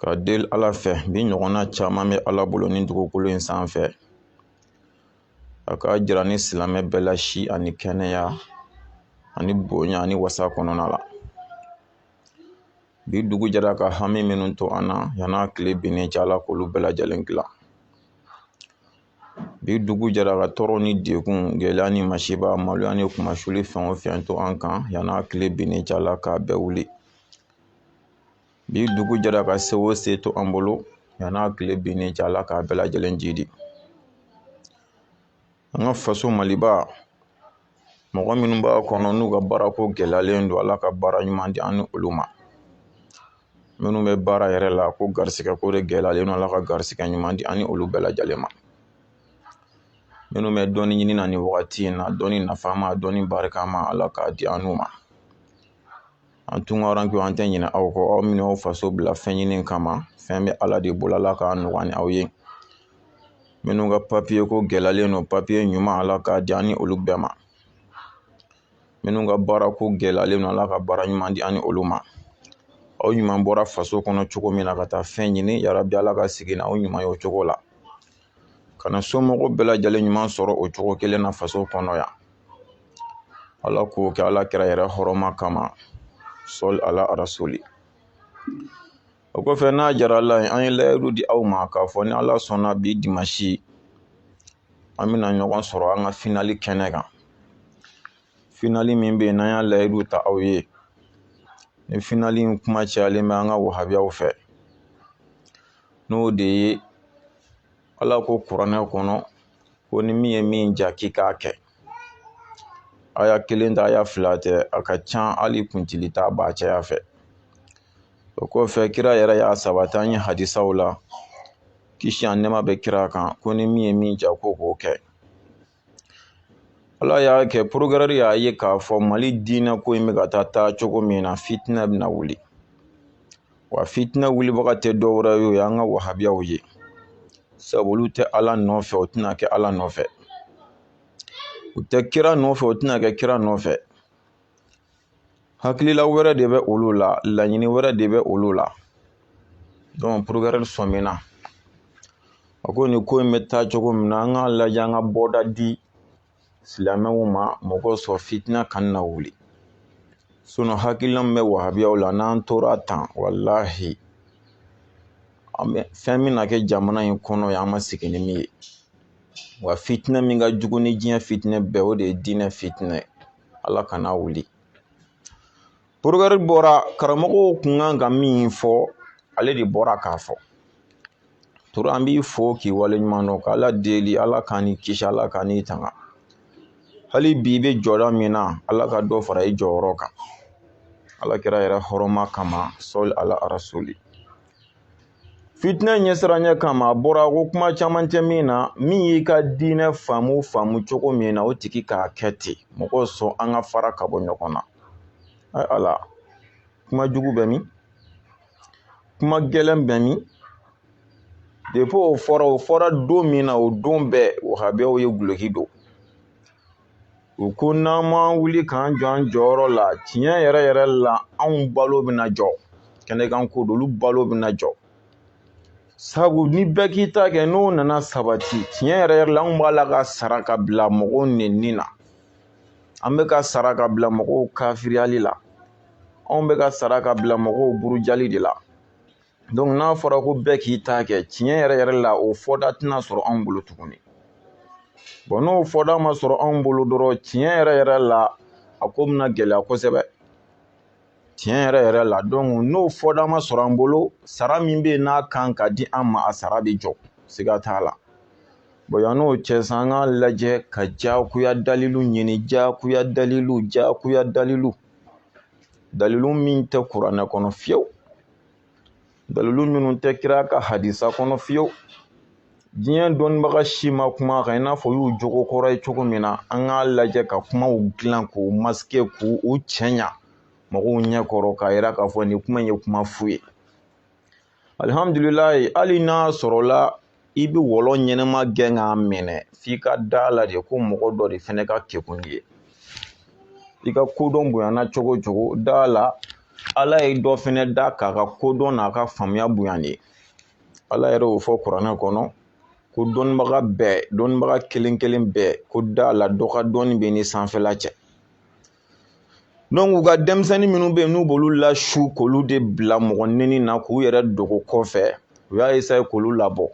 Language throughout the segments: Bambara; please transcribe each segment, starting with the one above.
ka deli ala fɛ bi ɲɔgɔnna caman bɛ ala bolo ni dugukolo in sanfɛ a k'a jira an ni silamɛ bɛɛ la si ani kɛnɛya ani bonya ani wasa kɔnɔna la bi dugu jɛra ka hami minnu to an na yan'a tile binnen cɛ ala k'olu bɛɛ lajɛlen dilan bi dugu jɛra ka tɔɔrɔ ni degun gɛlɛya ni masiba maloya ni kunmasuli fɛn o fɛn to an kan yan'a tile binnen cɛ ala k'a bɛɛ wuli bi dugu jɛra ka se o se to an bolo yan'a tile binnen cɛ ala k'a bɛɛ lajɛlen jidi an ka faso maliba mɔgɔ minnu b'a kɔnɔ n'u ka baarako gɛlɛyalen don ala ka baara ɲuman di an ni olu ma minnu bɛ baara yɛrɛ la ko garisigɛ ko de gɛlɛyalen don ala ka garisigɛ ɲuman di an ni olu bɛɛ lajɛlen ma minnu bɛ dɔnni ɲini na nin wagati in na dɔnni nafama dɔnni barikama ala k'a di an n'u ma an tunkarankew an tɛ ɲinɛ aw kɔ aw minnu y'aw faso bila fɛn ɲini kama fɛn bɛ ala de bolo ala k'a nɔgɔya an ni aw ye minnu ka papiye ko gɛlɛyalen don papiye ɲuman ala k'a di an ni olu bɛɛ ma minnu ka baara ko gɛlɛyalen don ala ka baara ɲuman di an ni olu ma aw ɲuman bɔra faso kɔnɔ cogo min na ka taa fɛn ɲini yarabi ala ka segin n'aw ɲuman ye o cogo la ka na somɔgɔw bɛɛ lajɛlen ɲuman sɔrɔ o cogo kelen na faso kɔnɔ yan ala k'o kɛ ala kira yɛrɛ hɔrɔma kama sɔli ala arasoli o kɔfɛ n'a jara ala ye an ye layidu di aw ma k'a fɔ ni ala sɔnna bi dimasi an bɛna ɲɔgɔn sɔrɔ an ka finali kɛnɛ kan finali min bɛ yen n'an y'a layidu ta aw ye ni finali in kuma cayalen bɛ an ka wahabiyaw fɛ n'o de ye ala ko kuranɛ kɔnɔ ko ni min ye min ja k'i k'a kɛ aya kelen tɛ aya fila tɛ a ka ca hali kɔntili t'a ban caya fɛ o kɔfɛ kira yɛrɛ y'a sabati an ye hadisaw la kisi ani nɛɛma bɛ kira kan ko ni min ye min ja ko k'o kɛ ala y'a kɛ progrès y'a ye k'a fɔ mali diinɛ ko in bɛ ka taa taa cogo min na fitinɛ bɛna wuli wa fitinɛ wulibaga tɛ dɔwɛrɛ ye o ye an ka wahabiyaw ye sabu olu tɛ ala nɔfɛ u tɛna kɛ ala nɔfɛ u tɛ kira nɔfɛ u tɛna kɛ kira nɔfɛ hakilila wɛrɛ de bɛ olu la laɲini wɛrɛ de bɛ olu la dɔnku progrès sɔmina a ko nin ko in bɛ taa cogo min na an k'a lajɛ an ka bɔda di silamɛw ma mɔgɔ sɔrɔ fitina kana wuli sinɔn hakilila min bɛ wahabiyaw la n'an tora tan walahi fɛn min na kɛ jamana in kɔnɔ yan an ma sigi ni min ye wa fitina min ka jugu ni diɲɛ fitinɛ bɛɛ o de ye diinɛ fitinɛ ye ala kan'a wuli porokirɛri bɔra karamɔgɔw kun kan ka min fɔ ale de bɔra k'a fɔ ture an b'i fo k'i wale ɲuman dɔn k'ala deli ala k'an n'i kisi ala k'an n'i tanga hali bi i bɛ jɔda min na ala ka dɔ fara i jɔyɔrɔ kan ala kira yɛrɛ hɔrɔma kama sali ala arasuli fitinɛ ɲɛsiranɲɛ kama a bɔra ko kuma caman tɛ min na min y'i ka diinɛ faamu faamu cogo min na o tigi k'a kɛ ten mɔgɔw sɔn an ka fara ka bɔ ɲɔgɔn na ala kuma jugu bɛ min kuma gɛlɛn bɛ min depi o fɔra o fɔra don min na o don bɛɛ wahabiyaw ye guloki don u ko n'an ma wuli k'an jɔ an jɔyɔrɔ la tiɲɛ yɛrɛ yɛrɛ la anw balo bɛna jɔ kɛnɛ kan ko don olu balo bɛna jɔ sabu ni bɛɛ k'i ta kɛ n'o nana sabati tiɲɛ yɛrɛ yɛrɛ la anw b'a la ka sara ka bila mɔgɔw neni na an bɛ ka sara ka bila mɔgɔw kafiriyali la anw bɛ ka sara ka bila mɔgɔw burujali de la n'a fɔra ko bɛɛ k'i ta kɛ tiɲɛ yɛrɛ yɛrɛ la o fɔda tɛna sɔrɔ anw bolo tuguni bon n'o fɔda ma sɔrɔ anw bolo dɔrɔn tiɲɛ yɛrɛ yɛrɛ la a ko bɛna gɛlɛya kosɛbɛ tiɲɛ yɛrɛ yɛrɛ la donc n'o fɔda ma sɔrɔ an bolo sara min bɛ yen n'a kan ka di an ma a sara bɛ jɔ siga t'a la bon yann'o cɛ sa an k'a lajɛ ka jagoya dalilu ɲini jagoya dalilu jagoya dalilu dalilu min tɛ kuranɛ kɔnɔ fiyewu dalilu minnu tɛ kira ka hadisa kɔnɔ fiyewu diɲɛ dɔnnibaga si ma kuma kan i n'a fɔ a y'u jogo kɔrɔ ye cogo min na an k'a lajɛ ka kumaw dilan k'u masike k'u cɛɲa mɔgɔw ɲɛ kɔrɔ k'a yira k'a fɔ nin kuma in ye kuma fu ye alihamdulilayi hali n'a sɔrɔla i bɛ wɔlɔ ɲɛnama gɛn k'a minɛ f'i ka d'a la de ko mɔgɔ dɔ de fɛnɛ ka kekun n'i ye i ka kodɔn bonyana cogo o cogo d'a la ala ye dɔ fɛnɛ da k'a ka kodɔn n'a ka faamuya bonya n'i ye ala yɛrɛ y'o fɔ kuranɛ kɔnɔ ko dɔnnibaga bɛɛ dɔnnibaga kelen kelen bɛɛ ko d'a la dɔ ka dɔnni bɛ ni sanfɛla cɛ donc u ka denmisɛnnin minnu bɛ yen n'u b'olu lasu k'olu de bila mɔgɔ neni na k'u yɛrɛ dogo kɔfɛ u y'a esaye k'olu labɔ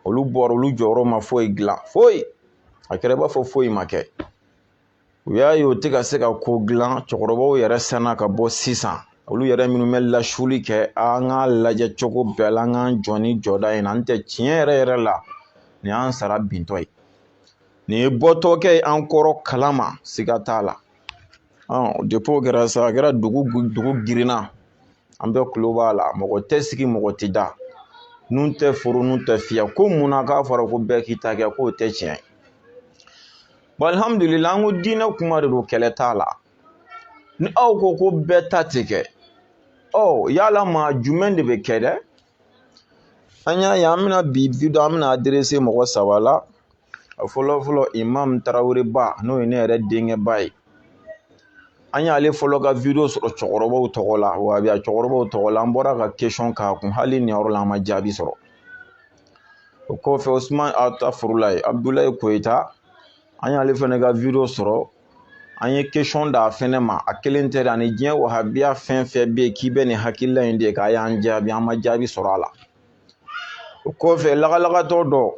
olu bɔra olu jɔyɔrɔ ma foyi dilan foyi a kɛra i b'a fɔ foyi ma kɛ u y'a ye u tɛ ka se ka ko dilan cɛkɔrɔbaw yɛrɛ sɔnna ka bɔ sisan olu yɛrɛ minnu bɛ lasuli kɛ an k'a lajɛ cogo bɛɛ la an k'an jɔ nin jɔda in na n'o tɛ tiɲɛ yɛrɛ yɛrɛ la nin y'an sara bintɔ ye nin ye bɔtɔkɛ ye an kɔrɔ kalama siga t'a la depi o kɛra sa a kɛra dugu dugu girinna an bɛɛ kulo b'a la mɔgɔ tɛ sigi mɔgɔ tɛ da nun tɛ foro nun tɛ fiyɛ ko mun na k'a fɔra ko bɛɛ k'i ta kɛ k'o tɛ tiɲɛ ye alihamudulila an ko diinɛ kuma de don kɛlɛ t'a la ni aw ko ko bɛɛ ta tɛ kɛ ɔ yala maa jumɛn de bɛ kɛ dɛ an y'a ye an bɛna bi video an bɛna aderese mɔgɔ saba la a fɔlɔ fɔlɔ imam taraweleba n'o ye ne yɛrɛ denkɛba ye an y'ale fɔlɔ ka video sɔrɔ cɛkɔrɔbaw tɔgɔ la wahabiya cɛkɔrɔbaw tɔgɔ la an bɔra ka kesɔn k'a kun hali nin yɔrɔ la an ma jaabi sɔrɔ o kɔfɛ osuman atafurulayi abudulayi koyita an y'ale fɛnɛ ka video sɔrɔ an ye kesɔn d'a fɛnɛ ma a kelen tɛ dɛ ani diɲɛ wahabiya fɛn fɛn bɛ yen k'i bɛ nin hakilila in de k'a y'an jaabi an ma jaabi sɔrɔ a la o kɔfɛ lagalagatɔ dɔ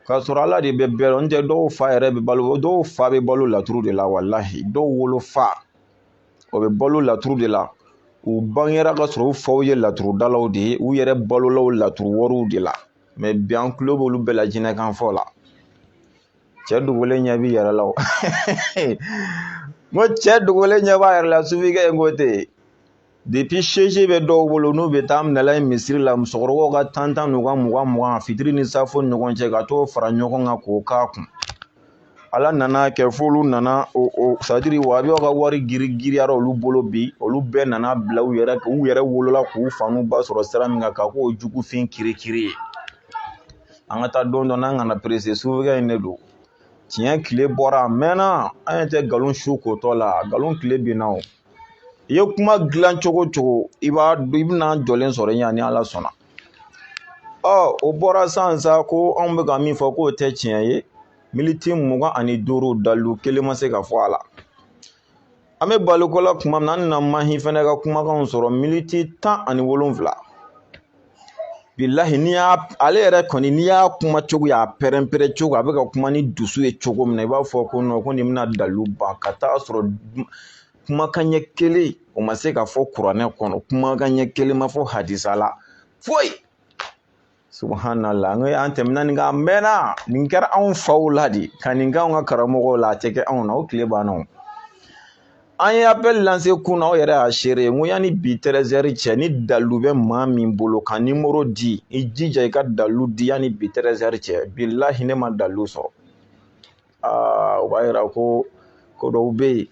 k'a sɔrɔ ala de bɛ bɛɛ dɔn n tɛ dɔw fa yɛrɛ bɛ balo dɔw fa bɛ balo laturu de la walahi dɔw wolo fa o bɛ balo laturu de la u bangera ka sɔrɔ u faw ye laturudalaw de ye u yɛrɛ balola o laturu wɔriw de la mɛ bi an tulo b'olu bɛɛ la jinɛkanfɔ la cɛ dogolen ɲɛ b'i yɛrɛ la o n ko cɛ dogolen ɲɛ b'a yɛrɛ la sufikɛ in ko ten depi seje bɛ dɔw bolo n'u bɛ taa minɛla ye misiri la musokɔrɔbaw ka tan tan n'u ka mugan mugan fitiri ni safo ni ɲɔgɔn cɛ ka t'o fara ɲɔgɔn kan k'o k'a kun ala nana kɛ f'olu nana o o sadiri wahabiya ka wari giri giriyara olu bolo bi olu bɛɛ nana bila u yɛrɛ u yɛrɛ wolola k'u fa n'u ba sɔrɔ sira min kan ka k'o jugu fin kirikiri ye an ka taa dɔɔni dɔɔni an kana perese sufikɛ in de don tiɲɛ tile bɔra a mɛnna an ye tɛ nkalon su kotɔ la nkalon tile binna o i ye kuma dilan cogo cogo i b'a i bɛn'an jɔlen sɔrɔ yan ni ala sɔnna ɔ o bɔra sisan sa ko anw bɛ ka min fɔ k'o tɛ tiɲɛ ye militi mugan ani duuru dalu kelen ma se ka fɔ a la an bɛ baliko la kuma min na an na mahi fɛnɛ ka kumakanw sɔrɔ militi tan ani wolonwula bilahi n'i y'a ale yɛrɛ kɔni n'i y'a kuma cogo y'a pɛrɛn-pɛrɛn cogo a bɛ ka kuma ni dusu ye cogo min na i b'a fɔ ko nɔ ko nin bɛna dalu ban ka taa sɔrɔ kumakan ɲɛ kelen o ma se ka fɔ kuranɛ kɔnɔ kumakan ɲɛ kelen ma fɔ hadisa la foyi subhanallah an ye an tɛmɛna nin kan a mɛnna nin kɛra anw faw la de ka nin kɛ anw ka karamɔgɔw la a tɛ kɛ anw na o tile banna o an ye appel lance kunun aw yɛrɛ y'a seere n ko yanni bi tɛrɛzɛri cɛ ni dalu bɛ maa min bolo ka nimoro di i jija i ka dalu di yanni bi tɛrɛzɛri cɛ bilahi ne ma dalu sɔrɔ aa o b'a yira ko ko dɔw bɛ yen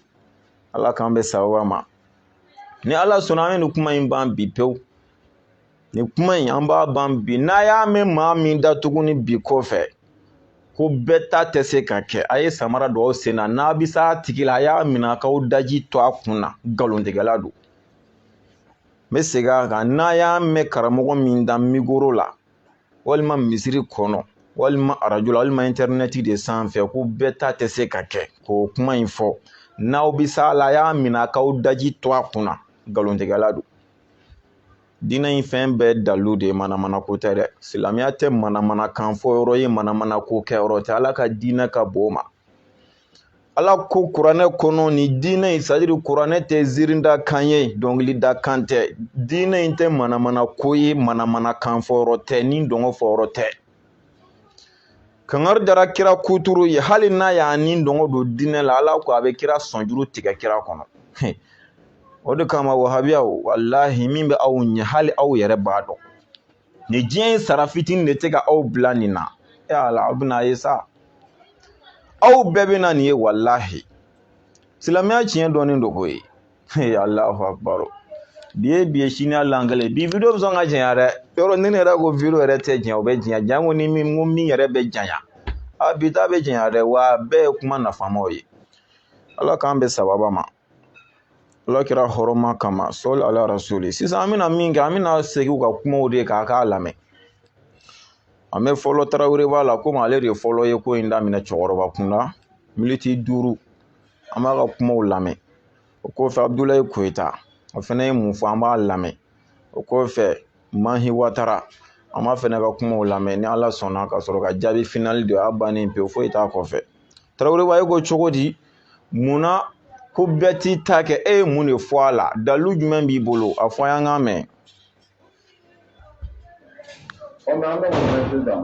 ala k'an bɛn sababa ma ni ala sɔnna an bɛ nin kuma in ban bi pewu nin kuma in an b'a ban bi n'a y'a mɛn maa min da tuguni bi kɔfɛ ko bɛɛ ta tɛ se ka kɛ a ye samara don aw sen na n'a bɛ s'a tigi la a y'a minɛ a k'aw daji to a kun na nkalontigɛla don n bɛ segin a kan n'a y'a mɛn karamɔgɔ min da mikoro la walima misiri kɔnɔ walima arajo la walima intɛrinɛti de sanfɛ ko bɛɛ ta tɛ se ka kɛ k'o kuma in fɔ n'aw bɛ s'a la a y'a minɛ a k'aw daji to a kun na nkalontigɛla don diinɛ in fɛn bɛɛ dalu de ye manamana ko tɛ dɛ silamɛya tɛ manamana kan fɔ yɔrɔ ye manamana ko kɛ yɔrɔ tɛ ala ka diinɛ ka bon o ma ala ko kuranɛ kɔnɔ ni diinɛ in c'est-à-dire kuranɛ tɛ ziirinda kan ye dɔnkilida kan tɛ diinɛ in tɛ manamana ko ye manamana kan fɔ yɔrɔ tɛ ni dɔngɔ fɔ yɔrɔ tɛ kangari dara kira kuturu ye hali n'a y'a ni dɔngɔ don diinɛ la ala ko a bɛ kira sɔnjuru tigɛ kira kɔnɔ o de kama wahabiyaw walahi min bɛ aw ɲɛ hali aw yɛrɛ b'a dɔn ni diɲɛ in sara fitinin de tɛ ka aw bila nin na e ala aw bɛn'a ye sa aw bɛɛ bɛna nin ye walahi silamɛya tiɲɛ dɔnnen don koyi Allahu akbar bi ye bi ye sini hali an kɛlen bi video bɛ sɔn ka janya dɛ yɔrɔ ne yɛrɛ ko video yɛrɛ tɛ janya o bɛ janya janko ni min ko min yɛrɛ bɛ janya a bi ta bɛ janya dɛ wa bɛɛ ye kuma nafamaw ye ala k'an bɛn sababa ma ala kira hɔrɔma kama sɔli ala rasuli sisan an bɛna min kɛ an bɛna segin u ka kumaw de kan k'a lamɛn an bɛ fɔlɔ taraweleba la komi ale de ye fɔlɔ ye ko in daminɛ cɛkɔrɔba kun na miniti duuru an b'a ka kumaw lamɛn o kɔfɛ abudulayi koyita o fana ye mun fɔ an b'a lamɛn o kɔfɛ mahi watara an b'a fana ka kumaw lamɛn ni ala sɔnna ka sɔrɔ ka jaabi finali di a bannen pewu foyi t'a kɔfɛ taraweleba e ko cogo di munna ko bɛɛ t'i ta kɛ e ye mun de fɔ a la dalu jumɛn b'i bolo a fɔ an k'a mɛn O la an bɛ mun kɛ sisan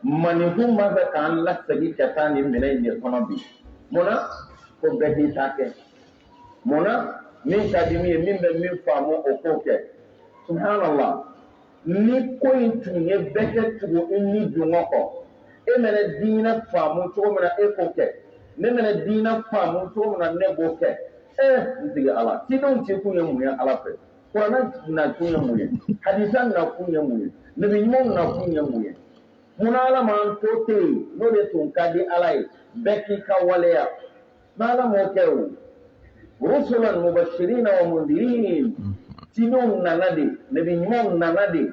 maninkun b'a fɛ k'an lasegin ka taa nin minɛn in de kɔnɔ bi mun na ko bɛɛ k'i ta kɛ mun na min ka di min ye min bɛ min faamu o k'o kɛ subhanallah ni ko in tun ye bɛɛ ka tugu i ni dungɔ kɔ e mɛnɛ diinɛ faamu cogo min na e k'o kɛ ne mɛnɛ diinɛ faamu cogo min na ne b'o kɛ ee n sigi ala cidenw cikun ye mun ye ala fɛ kuranɛ nakun ye mun ye hadisa nakun ye mun ye nabi ɲumanw nakun ye mun ye munna ala m'an to ten yen n'o de tun ka di ala ye bɛɛ k'i ka waleya n'ala m'o kɛ o rusulan mubashirina wa mundirin cidenw nana de nabi ɲumanw nana de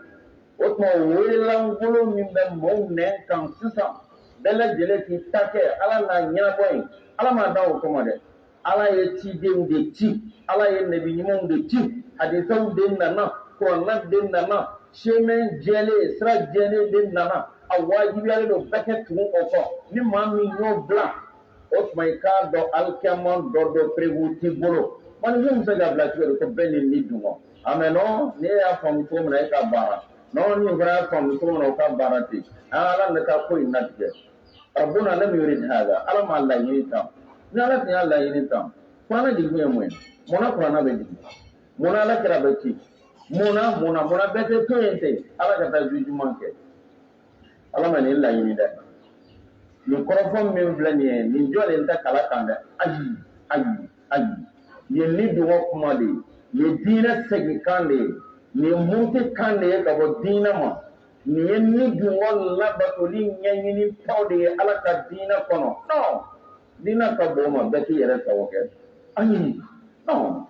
o tuma wele lankolon min bɛ maaw nɛn kan sisan bɛɛ lajɛlen k'i ta kɛ ala n'a ɲɛnabɔ yen ala m'an da o kama dɛ ala ye cidenw de ci ala ye nabi ɲumanw de ci hadisaw de nana kuranɛ de nana chemin jɛlen sira jɛlen de nana a wajibiyalen don bɛɛ k'i tugu o kɔ ni maa min y'o bila o tuma i k'a dɔn alikiyama dɔ don preuve t'i bolo maninfin bɛ se ka bila cogo di ko bɛɛ ni ni dungɔ a mais non ni e y'a faamu cogo min na e ka baara non nin fana y'a faamu cogo min na o ka baara ten an ala ne ka ko in latigɛ rabbuna lam yurid hada ala m'a laɲini tan ni ala tun y'a laɲini tan kuranɛ jigikun ye mun ye mun na kuranɛ bɛ jigin mun na ala kira bɛ ci mun na mun na mun na bɛɛ tɛ to yen ten ala ka taa jugement kɛ ala ma nin laɲini dɛ nin kɔrɔfɔ min filɛ nin ye nin jɔlen tɛ kala kan dɛ ayi ayi ayi nin ye ni dungɔ kuma de ye nin diinɛ segin kan de ye nin muruti kan de ye ka bɔ diinɛ ma Nin ye ni dungɔ labatoli ɲɛɲini taw de ye ala ka diinɛ kɔnɔ non diinɛ ka bon o ma bɛɛ k'i yɛrɛ sago kɛ ayi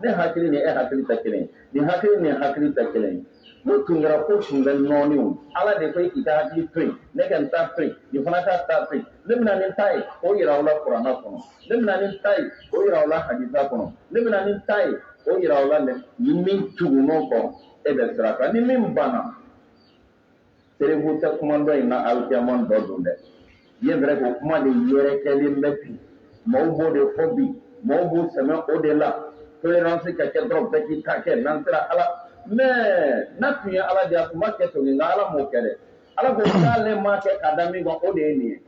ne hakili ni e hakili tɛ kelen nin hakili ni hakili tɛ kelen n'o tun kɛra ko tun bɛ nɔɔni ala de ko i ka hakili to yen ne ka n ta to yen nin fana k'a ta to yen ne bɛna nin ta ye o yira aw la kuranɛ kɔnɔ ne bɛna nin ta ye o yira aw la hadisa kɔnɔ ne bɛna nin ta ye o yira aw la dɛ ni min tugun'o kɔ e bɛ sira kan ni min banna preuve tɛ kuma dɔ in na alikiyama dɔ don dɛ c'est vrai ko kuma de yɛrɛkɛlen bɛ bi maaw b'o de fɔ bi maaw b'u sɛmɛ o de la tolérance ka kɛ dɔrɔn bɛɛ k'i ta kɛ n'an sera ala mais n'a tun ye ala de a tun b'a kɛ to nka ala m'o kɛ dɛ ala ko k'ale m'a kɛ k'a da min kan o de ye nin ye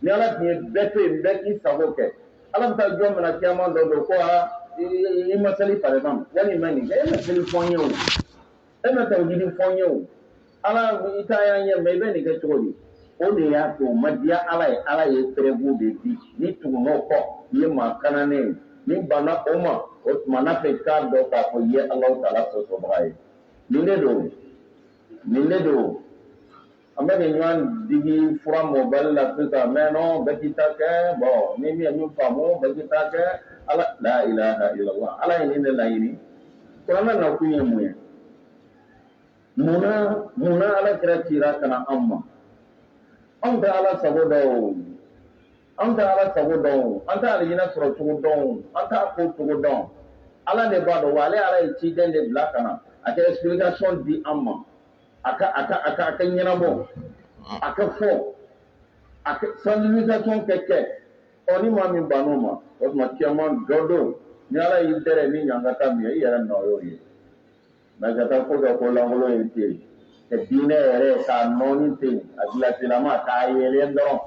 ni ala tun ye bɛɛ to yen bɛɛ k'i sago kɛ ala bɛ taa jɔn minɛ kiyama dɔ don ko aa i ma seli par exemple wala i ma nin kɛ e ma seli fɔ n ye o e ma tawhidi fɔ n ye o ala i ta y'a ɲɛ mɛ i bɛ nin kɛ cogo di o de y'a to o ma diya ala ye ala ye preuve de di n'i tugun'o kɔ i ye maa kananen ye n'i banna o ma o tuma na fɛ k'a dɔn k'a fɔ i ye alahu taala sɔsɔbaga ye nin de don nin de don An bɛ nin ɲɔgɔn digi fura mɔbali la sisan mais non bɛɛ k'i ta kɛ bon ni min ye min faamu bɛɛ k'i ta kɛ ala la ilaha illallah ala ye nin de laɲini kuranɛ nakun ye mun ye munna munna ala kira cira ka na anw ma anw tɛ ala sago dɔn an tɛ ala sago dɔn an tɛ alijinɛ sɔrɔ cogo dɔn an t'a ko cogo dɔn ala de b'a dɔn wa ale ala ye ciden de bila ka na a ka explication di an ma a ka a ka a ka a ka ɲɛnabɔ a ka fɔ a ka sensibilisation kɛ kɛ ɔ ni maa min banna o ma o tuma kiyama dɔ don ni ala y'i dɛrɛ ni ɲangata min ye i yɛrɛ nɔ y'o ye mais ka taa ko dɔ ko lankolon ye ten yen ka diinɛ yɛrɛ k'a nɔɔni ten yen a gilasilama k'a yeelen dɔrɔn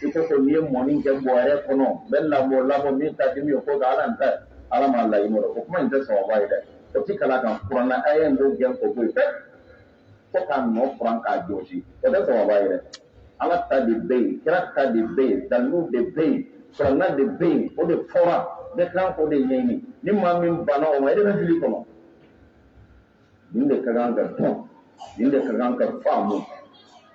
i ko ko n'i ye mɔni kɛ bɔrɛ kɔnɔ n bɛ lamɔ lamɔ min ka di min ye ko ka ala n ta ala m'a laɲini o kuma in tɛ sawaba ye dɛ o tɛ kalan kan kurana a ye nin gɛn k'o bɔ yen fo k'a nɔ furan k'a jɔsi o tɛ sawaba ye dɛ ala ta de bɛ yen kira ta de bɛ yen dalilu de bɛ yen kurana de bɛ yen o de fɔra bɛɛ kan k'o de ɲɛɲini ni maa min banna o ma e de bɛ fili kɔnɔ nin de ka kan ka dɔn nin de ka kan ka faamu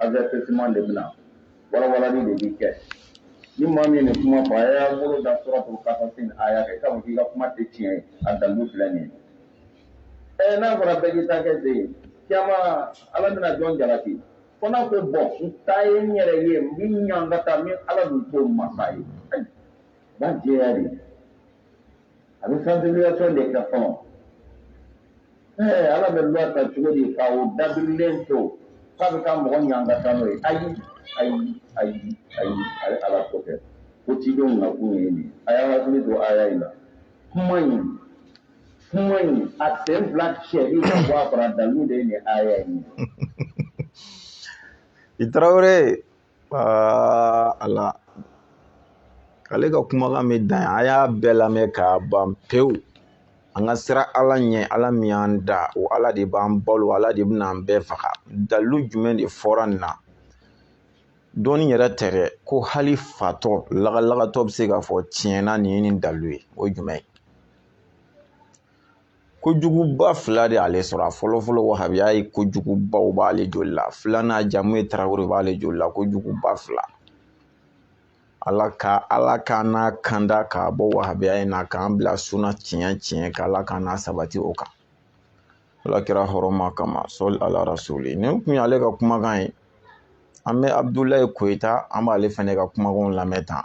Azsɛman de bɛna wawa de b'i kɛ ni maa min nin kuma fɔ a y'a bolo da sɔrɔ ko ka a y'a kɛ k'i ka kuma tɛ tiɲɛ ye a damu filɛ nin ye n'a fɔra bɛɛ taa kɛ de ye cɛman ala bɛna jɔn jalaki ko n'a bɛ bɔ ta ye n yɛrɛ ye min ɲɔgɔn ka taa ni ala dun to masa ye ba diɲɛ de a bɛ sensibilisation de kɛ fɔlɔ ɛɛ ala bɛ loi ta cogo di ka o dabirilen to k'a bɛ taa mɔgɔ ɲangata n'o ye ayi ayi ayi ayi ayi ala t'o kɛ ko cidenw nakun ye nin a y'a hakili to aya in na kuma in kuma in a sen fila cɛli ka bɔ a kɔrɔ a dalilu de ye nin aya in ye i tarawele Aa ala ale ka kumakan bɛ dan yan an y'a bɛɛ lamɛn k'a ban pewu an ka siran ala ɲɛ ala min y'an da o ala de b'an balo ala de bɛna an bɛɛ faga dalilu jumɛn de fɔra nin na dɔɔni yɛrɛ tɛ dɛ ko hali fatɔ lagalagatɔ bɛ se k'a fɔ tiɲɛna nin ye nin dalilu ye o ye jumɛn ye kojuguba fila de y'ale sɔrɔ a fɔlɔ fɔlɔ wahabiya ye kojuguba o b'ale joli la filanan jamu ye tarawele b'ale joli la kojuguba fila ala ka ala ka n'a kanda k'a bɔ wahabiya in na k'an bila suna tiɲɛ tiɲɛ kan ala ka n'a sabati o kan ala kira hɔrɔma kama sɔli ala rasuli nin kun ye ale ka kumakan ye an bɛ abudulayi koyita an b'ale fɛnɛ ka kumakanw lamɛn tan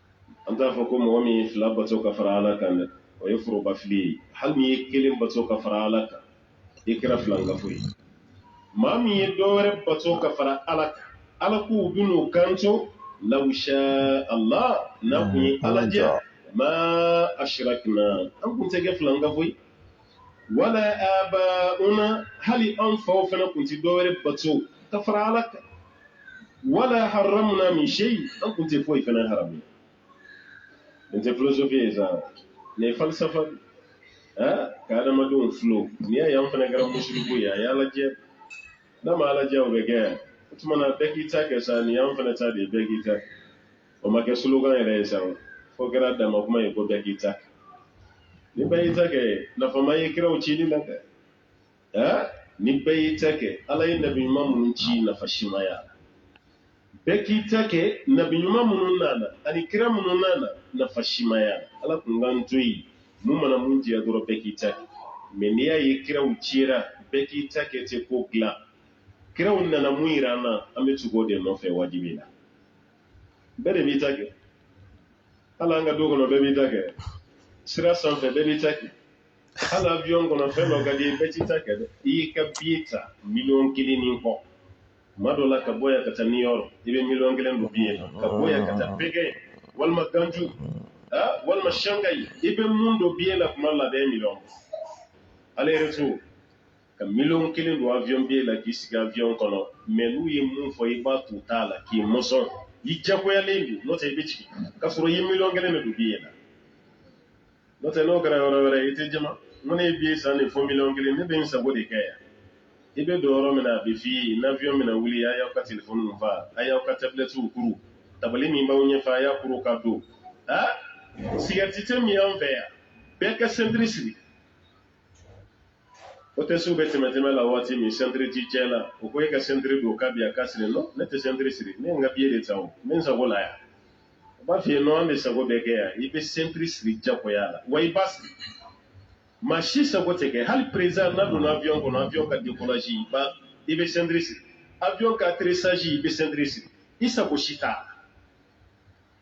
an t'a fɔ ko mɔgɔ min ye fila bato ka fara ala kan dɛ o ye forobafili ye hali n'i ye kelen bato ka fara ala kan i kɛra filankafo ye maa min ye dɔ wɛrɛ bato ka fara ala kan ala k'u bɛn'u kanto law sha ala n'a kun ye ala diya ma ashrakna an kun tɛ kɛ filankafo ye wala abauna hali an faw fana tun tɛ dɔwɛrɛ bato ka fara ala kan wala haramuna min seyi an tun tɛ foyi fana haramu nin tɛ filosofi ye sa nin ye falisafa de eh, ka adamadenw filo n'i y'a ye an fana kɛra musiriku ye a y'ala diya n'a ma ala diya o bɛ kɛ yan o tuma na bɛɛ k'i ta kɛ sa nin y'an fana ta de ye bɛɛ k'i ta kɛ o ma kɛ slogan yɛrɛ ye sa fo kɛra dan kuma ye ko bɛɛ k'i ta ni bɛɛ y'i ta kɛ nafa ma ye kiraw cili la kɛ ni bɛɛ y'i ta kɛ ala ye nabi ɲuman minnu ci nafa si ma ye bɛɛ k'i ta kɛ nabi ɲuman minnu nana ani kira minnu nana nafa si ma ye ala tun k'an to yen min mana min diya dɔrɔn bɛɛ k'i ta kɛ mɛ n'i y'a ye kiraw cira bɛɛ k'i ta kɛ tɛ ko dilan kiraw nana min jira an na an bɛ tugu o de nɔfɛ wajibi na bɛɛ de b'i ta kɛ hali an ka du kɔnɔ bɛɛ b'i ta kɛ sira sanfɛ bɛɛ b'i ta kɛ hali avion kɔnɔ fɛn dɔ ka di bɛɛ t'i ta kɛ dɛ i y'i ka biye ta miliyɔn kelen ni kɔ tuma dɔ la ka bɔ yan ka taa New York i bɛ miliyɔn kelen don biye la ka bɔ yan ka taa Pékin walima ganju walima shangai i bɛ mun don biye la tuma la bɛɛ miliyɔn aller retour Ka million kelen don avion billet la k'i sigi avion kɔnɔ mais n'u ye min fɔ i b'a t'u ta la k'i mɔsɔn i jagoyalen don n'o tɛ i bɛ jigin k'a sɔrɔ i ye million kelen de don billet la n'o tɛ n'o kɛra yɔrɔ wɛrɛ i tɛ jaman ko ne ye billet san de fo million kelen ne bɛ n sago de kɛ yan i bɛ don yɔrɔ min na a bɛ f'i ye n'avion bɛna wuli a y'aw ka telefɔni fa a y'aw ka tabilɛtiw kuru tabali min b'aw ɲɛfɛ a y'a kuru ka don aa sigarɛti tɛ min an fɛ yan bɛɛ ka sentiri siri hôtesse bɛ tɛmɛtɛmɛ la waati min sentiri t'i cɛ la u ko e ka sentiri don k'a bi a ka siri nɔ ne tɛ sentiri siri ne n ka biye de ta o n bɛ n sago la yan u b'a f'i ye nɔ an de sago bɛ kɛ yan i bɛ sentiri siri jagoya la wa i b'a siri maa si sago tɛ kɛ hali perezidan n'a donna avion kɔnɔ avion ka dekolasi i b'a i bɛ sentiri siri avion ka atterrissage i bɛ sentiri siri i sago si t'a la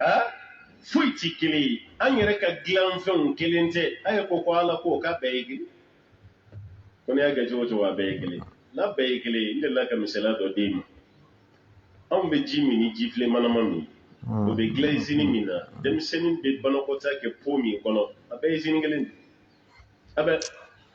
a foyi tɛ kelen ye an yɛrɛ ka dilanfɛnw kelen tɛ a ye ko ko ala ko k'a bɛɛ ye kelen ko n'i y'a kɛ cogo o cogo a bɛɛ ye kelen n'a bɛɛ ye kelen ye n delila ka misaliya dɔ d'e ma anw bɛ ji min ni jifilen manama min o bɛ dilan izini min na denmisɛnnin bɛ banakɔtaa kɛ po min kɔnɔ a bɛɛ ye izini kelen de a bɛ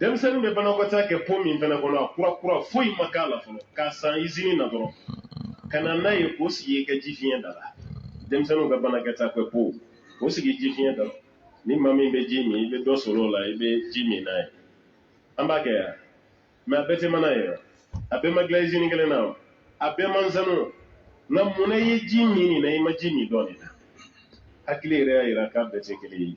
denmisɛnnin bɛ banakɔtaa kɛ po min fana kɔnɔ a kura kura foyi ma k'a la fɔlɔ k'a san izini na dɔrɔn ka na n'a ye k'o sigi i ka ji fiɲɛ da la denmisɛnninw ka banakɔtaa kɛ po k'o sigi ji fiɲɛ da la ni maa min bɛ ji min i bɛ dɔ sɔrɔ o la i bɛ ji min n'a ye an b'a kɛ yan mɛ a bɛɛ tɛ mana ye a bɛɛ ma dilan izini kelen na a bɛɛ man sanu nka mun na i ye ji min nin na i ma ji min dɔ nin na hakili yɛrɛ y'a jira k'a bɛɛ tɛ kelen ye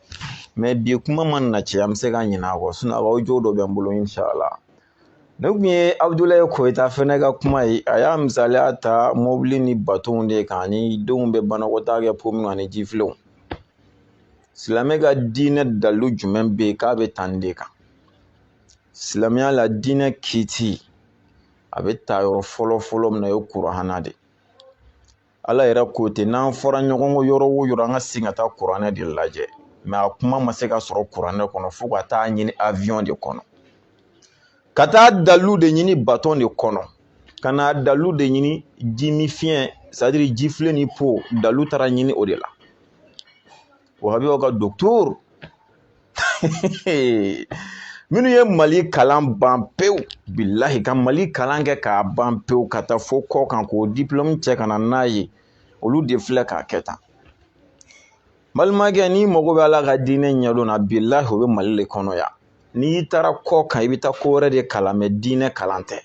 bi kuma mana caya an bɛ se ka ɲinɛ a kɔ sinɔn a ka ojo dɔ bɛ n bolo insala nin kun ye abudulayi koyita fɛnɛ ka kuma ye a y'a misaliya ta mobili ni batonw de kan ani denw bɛ banakɔtaa kɛ po min ani jifilenw silamɛ ka diinɛ dalu jumɛn bɛ yen k'a bɛ tan de kan silamɛya la diinɛ kiiti a bɛ ta yɔrɔ fɔlɔ fɔlɔ min na o ye kuranɛ de ye ala yɛrɛ ko ten n'an fɔra ɲɔgɔn kɔ yɔrɔ o yɔrɔ an ka segin ka taa kuranɛ de lajɛ mɛ a kuma ma se ka sɔrɔ kuranɛ kɔnɔ fo ka taa ɲini aviyɔn de kɔnɔ ka taa dalu de ɲini batɔn de kɔnɔ ka na dalu de ɲini jiminfiyɛn sɛtadiri jifilen ni po dalu taara ɲini o de la wahabiyaw ka dɔkitɔri minnu ye mali kalan ban pewu bilahi ka mali kalan kɛ k'a ban pewu ka taa fo kɔkan k'o dipulɔmu cɛ ka na n'a ye olu de filɛ k'a kɛ tan balimakɛ n'i mago bɛ ala ka diinɛ ɲɛdɔn na bilahi o bɛ mali de kɔnɔ yan n'i taara kɔkan i bɛ taa ko wɛrɛ de kalan mɛ diinɛ kalan tɛ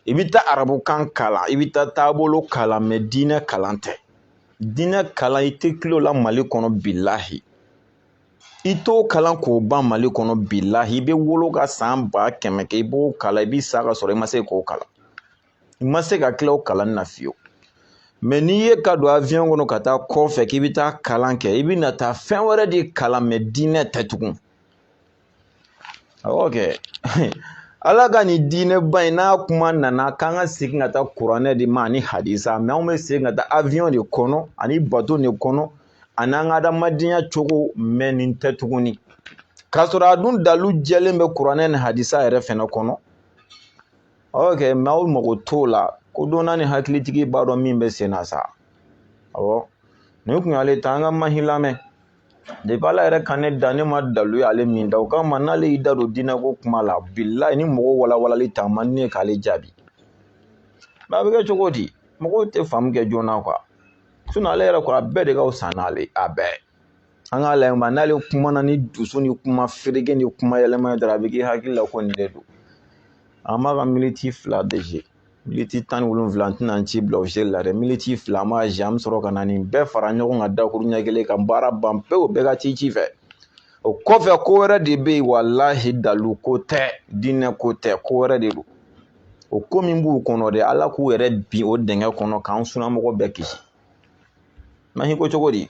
i bɛ taa arabukan kalan i bɛ taa taabolo kalan mɛ diinɛ kalan tɛ diinɛ kalan i tɛ til'o la mali kɔnɔ bilahi i t'o kalan k'o ban mali kɔnɔ bilahi i bɛ wolo ka san ba kɛmɛ kɛ i b'o kalan i bɛ sa ka sɔrɔ i ma se k'o kalan i ma se ka tila o kalanni na fiyewu mɛ n'i ye ka don avion kɔnɔ ka taa kɔfɛ k'i bɛ taa kalan kɛ i bɛna taa fɛn wɛrɛ de kalan mɛ diinɛ tɛ tugun awɔ kɛ ala ka nin diinɛba in n'a kuma nana k'an ka segin ka taa kuranɛ de ma ani hadisa mɛ anw bɛ segin ka taa awiyɔn de kɔnɔ ani bato de kɔnɔ ani an ka adamadenya cogo mɛ nin tɛ tuguni k'a sɔrɔ a dun dalu jɛlen bɛ kuranɛ ni hadisa yɛrɛ fɛnɛ kɔnɔ awɔ kɛ mɛ aw mago t'o la kodɔnna ni hakilitigi b'a dɔn min bɛ sen na sa awɔ nin kun y'ale ta an ka mahi lamɛn depi ala yɛrɛ ka ne da ne ma dalu ye ale min da o kama n'ale y'i da don diinɛ ko kuma la bilahi ni mɔgɔ walawalali ta man ne k'ale jaabi mɛ a bɛ kɛ cogo di mɔgɔw tɛ faamu kɛ joona kuwa sinɔn ale yɛrɛ ko a bɛɛ de ka fisa n'ale a bɛɛ an k'a lajɛ mɛ n'ale kumana ni dusu ni kuma fereke ni kuma yɛlɛma ye dɔrɔn a bɛ k'i hakili la ko nin de don an b'a ka militi fila dege militi tan ni wolonwula n tɛna n ci bila o seli la dɛ militi fila ma zi an bɛ sɔrɔ ka na nin bɛɛ fara ɲɔgɔn kan dakuru ɲɛ kelen ka baara ban pewu bɛɛ ka t'i ci fɛ o kɔfɛ ko wɛrɛ de bɛ yen walahi dalu ko tɛ diinɛ ko tɛ ko wɛrɛ de don o ko min b'u kɔnɔ dɛ ala k'u yɛrɛ bin o dingɛ kɔnɔ k'an sunamɔgɔ bɛɛ kisi mahi ko cogo di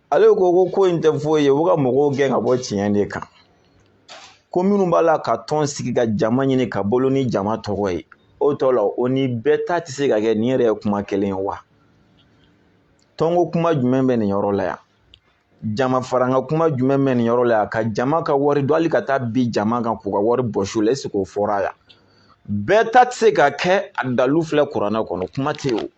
ale ko ko ko in tɛ foyi ye u ka mɔgɔw gɛn ka bɔ tiɲɛ de kan ko minnu b'a la ka tɔn sigi ka jama ɲini ka bolo ni jama tɔgɔ ye o tɔ la o ni bɛɛ ta tɛ se ka kɛ nin yɛrɛ ye kuma kelen ye wa tɔnko kuma jumɛn bɛ nin yɔrɔ la yan jama faranga kuma jumɛn bɛ nin yɔrɔ la yan ka jama ka wari dun hali ka taa bin jama kan k'u ka wari bɔsi u la eseke o fɔra yan bɛɛ ta tɛ se ka kɛ a dalu filɛ kuranɛ kɔnɔ kuma tɛ yen o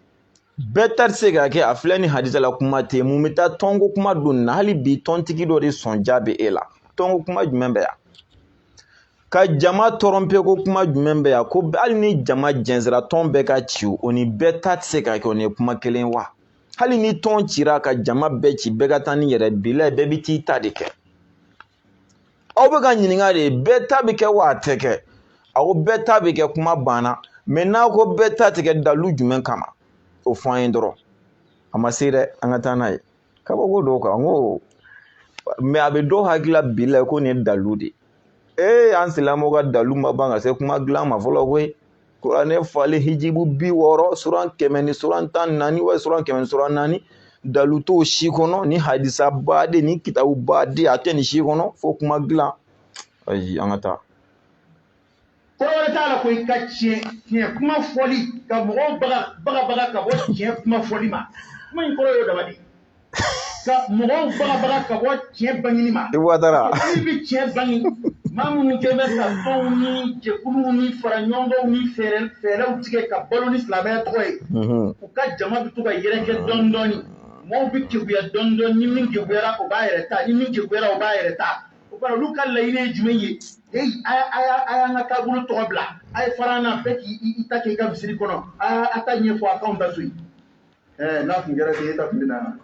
bɛɛ ta tɛ se ka kɛ a filɛ ni hadisa la kuma tɛ mun bɛ taa tɔnko kuma don na hali bi tɔntigi dɔ de sɔn ja bɛ e la tɔnko kuma jumɛn bɛ yan ka jama tɔrɔnpe ko kuma jumɛn bɛ yan ko hali ni jama jɛnsira tɔn bɛɛ ka ci o ni bɛɛ ta tɛ se ka kɛ o ni ye kuma kelen wa hali ni tɔn cira ka jama bɛɛ ci bɛɛ ka taa ni yɛrɛ bilahi bɛɛ bɛ t'i ta de kɛ aw bɛ k'a ɲininka de bɛɛ ta bɛ kɛ wa a tɛ kɛ a ko bɛɛ ta bɛ kɛ kuma banna mɛ n'a ko bɛɛ ta tɛ kɛ dalu jumɛn kama o fɔ an ye dɔrɔn a ma se dɛ an ka taa n'a ye kabako dɔw kan n ko mɛ a bɛ dɔw hakili la bilahi ko nin ye dalu de ye ee an silamɛw ka dalu ma ban ka se kuma dilan ma fɔlɔ koyi kuranɛ falen hijibu bi wɔɔrɔ suran kɛmɛ ni suran tan naani wa suran kɛmɛ ni suran naani dalu t'o si kɔnɔ ni hadisa baden ni kitabu baden a tɛ nin si kɔnɔ fo kuma dilan ayi an ka taa kɔrɔ t'a la ko i ka tiɲɛ tiɲɛ kuma fɔli ka mɔgɔw bagabaga ka bɔ tiɲɛ kuma fɔli ma kuma in kɔrɔ y'o dama de ye ka mɔgɔw bagabaga ka bɔ tiɲɛ bangini ma i wadara i bɛ tiɲɛ bangi maa minnu kɛ bɛ ka tɔnw ni jɛkuluw ni fara ɲɔgɔnw ni fɛɛrɛ fɛɛrɛw tigɛ ka balo ni silamɛya tɔgɔ ye u ka jama bɛ to ka yɛrɛkɛ dɔɔni dɔɔni mɔgɔw bɛ keguya dɔɔni dɔɔni ni min keguyara o b'a yɛrɛ ta ni min keguyara o b'a yɛrɛ ta o kɔrɔ olu ka laɲini ye jumɛn ye hey a y'a- a y'a- a y'an ka taabolo tɔgɔ bila a ye fara an na bɛɛ k'i i- i ta kɛ i ka misiri kɔnɔ a a ta ɲɛfɔ a k'anw ta to yen ɛɛ n'a tun kɛra ten e ta tun bɛ na yan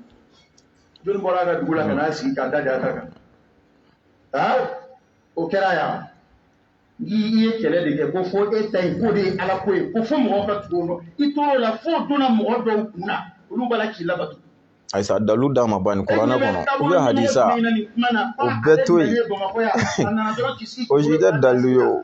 jɔni bɔra a ka dugu la ka n'a sigi k'a da d'a ta kan aa o kɛra yan i ye kɛlɛ de kɛ ko fo e ta in k'o de ye ala ko ye ko fo mɔgɔw ka tugu o nɔ i tor'o la fo donna mɔgɔ dɔw kun na olu b'a la k'i labato ayisa dalu d'a ma ban nin kuranɛ kɔnɔ ou bien hadisa o bɛɛ to yen o si tɛ dalu ye o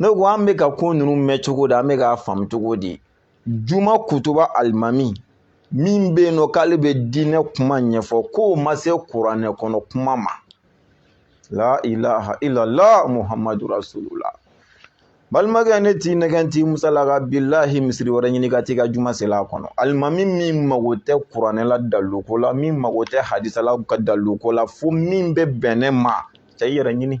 ne ko an bɛ ka ko ninnu mɛn cogo di an bɛ k'a faamu cogo di juma kutuba alimami min bɛ yen n'o k'ale bɛ diinɛ kuma ɲɛfɔ k'o ma se kuranɛ kɔnɔ kuma ma la ilaha illallah muhammadu rasulullah balimakɛ ne t'i nɛgɛn t'i musalaka bilahi misiri wɛrɛ ɲini ka t'i ka juma seli a kɔnɔ alimami min mago tɛ kuranɛ la daliluko la min mago tɛ hadisa la ka daliluko la fo min bɛ bɛn ne ma cɛ i yɛrɛ ɲini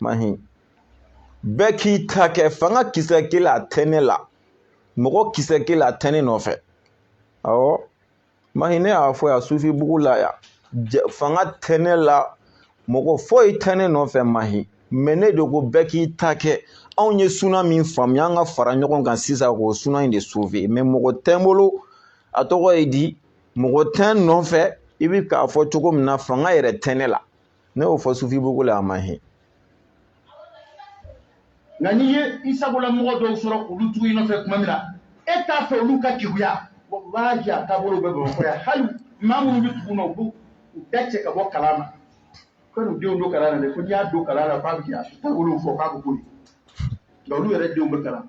mahi bɛɛ k'i ta kɛ fanga kisɛ kelen a tɛ ne la mɔgɔ kisɛ kelen a tɛ ne nɔfɛ awɔ mahi ne y'a fɔ yan sufi bugu la yan fanga tɛ ne la mɔgɔ foyi tɛ ne nɔfɛ mahi mɛ ne de ko bɛɛ k'i ta kɛ anw ye suna min faamuya an ka fara ɲɔgɔn kan sisan k'o suna in de sauver mɛ mɔgɔ tɛ n bolo a tɔgɔ ye di mɔgɔ tɛ n nɔfɛ i bɛ k'a fɔ cogo min na fanga yɛrɛ tɛ ne la ne y'o fɔ sufi bugu la a mahi nka n'i ye i sagola mɔgɔ dɔw sɔrɔ olu tugu i nɔfɛ tuma min na e t'a fɛ olu ka keguya walahi a taabolo bɛ bamakɔ yan hali maa minnu bɛ tugu na u b'u bɛɛ cɛ ka bɔ kalan na kan'u denw don kalan na dɛ ko n'i y'a don kalan na k'a bɛ kɛ a taabolow fɔ k'a bɛ boli nka olu yɛrɛ denw bɛ kalan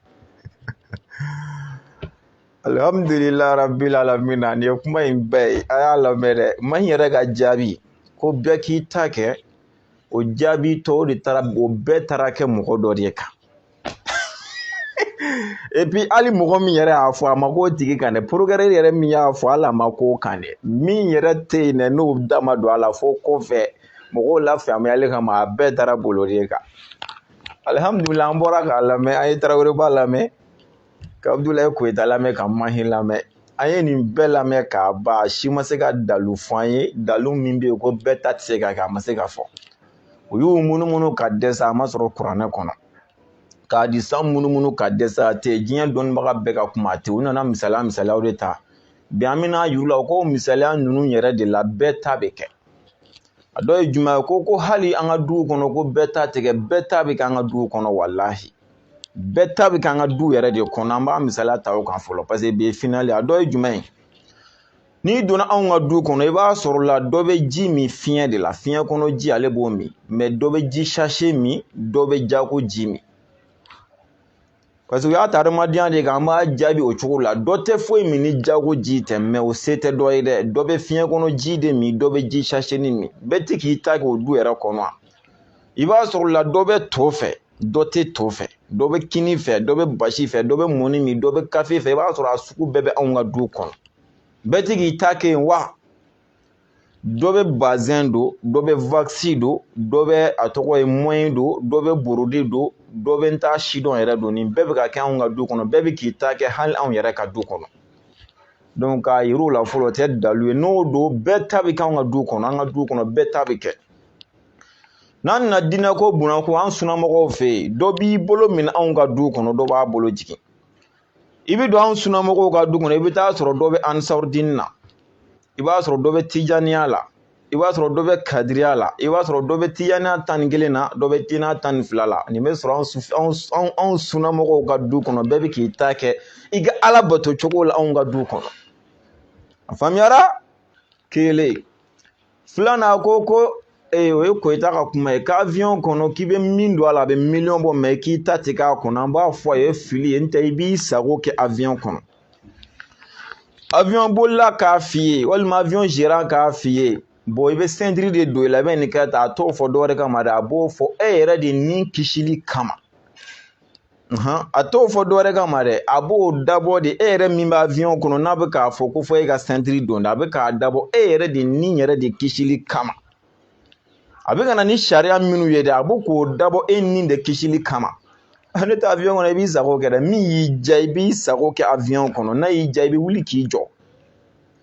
alhamdulila rabbil alamin nin ye kuma in bɛɛ ye a y'a lamɛn dɛ mahi yɛrɛ ka jaabi ko bɛɛ k'i ta kɛ o jaabi tɔw de taara o bɛɛ taara kɛ mɔgɔ dɔ de kan epi hali mɔgɔ min yɛrɛ y'a fɔ a ma k'o tigi kan dɛ porokɛrɛ yɛrɛ min y'a fɔ hali a ma k'o kan dɛ min yɛrɛ tɛ yen dɛ n'o da ma don a la fo kɔfɛ mɔgɔw la faamuyali kama a bɛɛ taara bolo de kan alihamudulila an bɔra k'a lamɛn an ye taraweleba lamɛn ka abudulayi koyita lamɛn ka mahi lamɛn an ye nin bɛɛ lamɛn k'a ban si ma se ka dalu fɔ an ye dalu min bɛ yen ko bɛɛ ta tɛ se ka kɛ a ma se ka fɔ u y'u munumunu ka dɛsɛ a ma sɔrɔ kuranɛ kɔnɔ ka hadisa munumunu ka dɛsɛ a tɛ diɲɛ dɔnnibaga bɛɛ ka kuma a tɛ u nana misaliya misaliyaw de ta bi an bɛna yir'u la u ko misaliya ninnu yɛrɛ de la bɛɛ ta bɛ kɛ a dɔ ye jumɛn ye ko ko hali an ka duw kɔnɔ ko bɛɛ ta tɛ kɛ bɛɛ ta bɛ k'an ka duw kɔnɔ walahi bɛɛ ta bɛ k'an ka du yɛrɛ de kɔnɔ an b'a misaliya ta o kan fɔlɔ paseke bi finali a dɔ ye jumɛn ye n'i donna anw ka du kɔnɔ i b'a sɔrɔ la dɔ bɛ ji min fiɲɛ de la fiɲɛ kɔnɔ ji ale b'o min mɛ dɔ bɛ ji sase min dɔ bɛ jago ji min parce que u y'a ta adamadenya de kan an b'a jaabi o cogo la dɔ tɛ foyi min ni jago ji tɛ mɛ o se tɛ dɔ ye dɛ dɔ bɛ fiɲɛ kɔnɔ ji de min dɔ bɛ ji saseni min bɛɛ tɛ k'i ta kɛ o du yɛrɛ kɔnɔ i b'a sɔrɔ la dɔ bɛ to fɛ dɔ tɛ to fɛ dɔ bɛ kini fɛ dɔ bɛ basi fɛ dɔ bɛ mɔni min dɔ bɛ kafe fɛ i b'a sɔrɔ a sugu bɛɛ bɛ anw ka du kɔnɔ bɛɛ tɛ k'i ta kɛ yen wa dɔ bɛ bazɛn don dɔ bɛ wakisi don dɔ bɛ a tɔgɔ ye moyen don dɔ bɛ borode don dɔ bɛ n t'a sidɔn yɛrɛ don nin bɛɛ bɛ ka kɛ anw ka du kɔnɔ bɛɛ bɛ k'i ta kɛ hali anw yɛrɛ ka du kɔnɔ donc k'a yir'u la fɔlɔ o tɛ dalu ye n'o don bɛɛ ta bɛ kɛ anw ka du kɔnɔ an ka du kɔnɔ bɛɛ ta bɛ kɛ n'an nana diinɛ ko bon na ko an sunnamɔgɔw fɛ yen dɔ b'i bolo minɛ anw ka du kɔnɔ dɔ b'a bolo jigin i bɛ don an sunamɔgɔw ka du kɔnɔ i bɛ taa sɔrɔ dɔ bɛ ansarudini na i b'a sɔrɔ dɔ bɛ tijaniya la i b'a sɔrɔ dɔ bɛ kadiriya la i b'a sɔrɔ dɔ bɛ tijaniya tan ni kelen na dɔ bɛ tijaniya tan ni fila la nin bɛ sɔrɔ anw sunamɔgɔw ka du kɔnɔ bɛɛ bɛ k'i ta kɛ i ka ala bato cogo la anw ka du kɔnɔ a faamuyara kelen filanan ko ko ee o ye koyita ka kuma ye ka aviyɔn kɔnɔ k'i bɛ min don a la a bɛ miliyɔn bɔ mɛ k'i ta tɛ k'a kɔnɔ an b'a fɔ a ye fili ye n tɛ i b'i sago kɛ aviyɔn kɔnɔ aviyɔn bolila k'a f'i ye walima aviyɔn zeran k'a f'i ye bɔn i bɛ sɛntiri de don i la i bɛ nin kɛ tan a t'o fɔ dɔwɛrɛ kama dɛ a b'o fɔ e yɛrɛ de ni kisili kama a t'o fɔ dɔwɛrɛ kama dɛ a b'o dabɔ de e yɛrɛ min bɛ avion kɔnɔ n'a bɛ k'a fɔ ko fɔ e ka sɛntiri don a bɛ k'a dabɔ e yɛrɛ de ni yɛrɛ de kisili kama a bɛ ka na ni sariya minnu ye dɛ a bɛ k'o dabɔ e ni de kisili kama ne tɛ avion kɔnɔ i b'i sago kɛ dɛ min y'i diya i b'i sago kɛ avion kɔnɔ n'a y'i diya i bɛ wuli k'i jɔ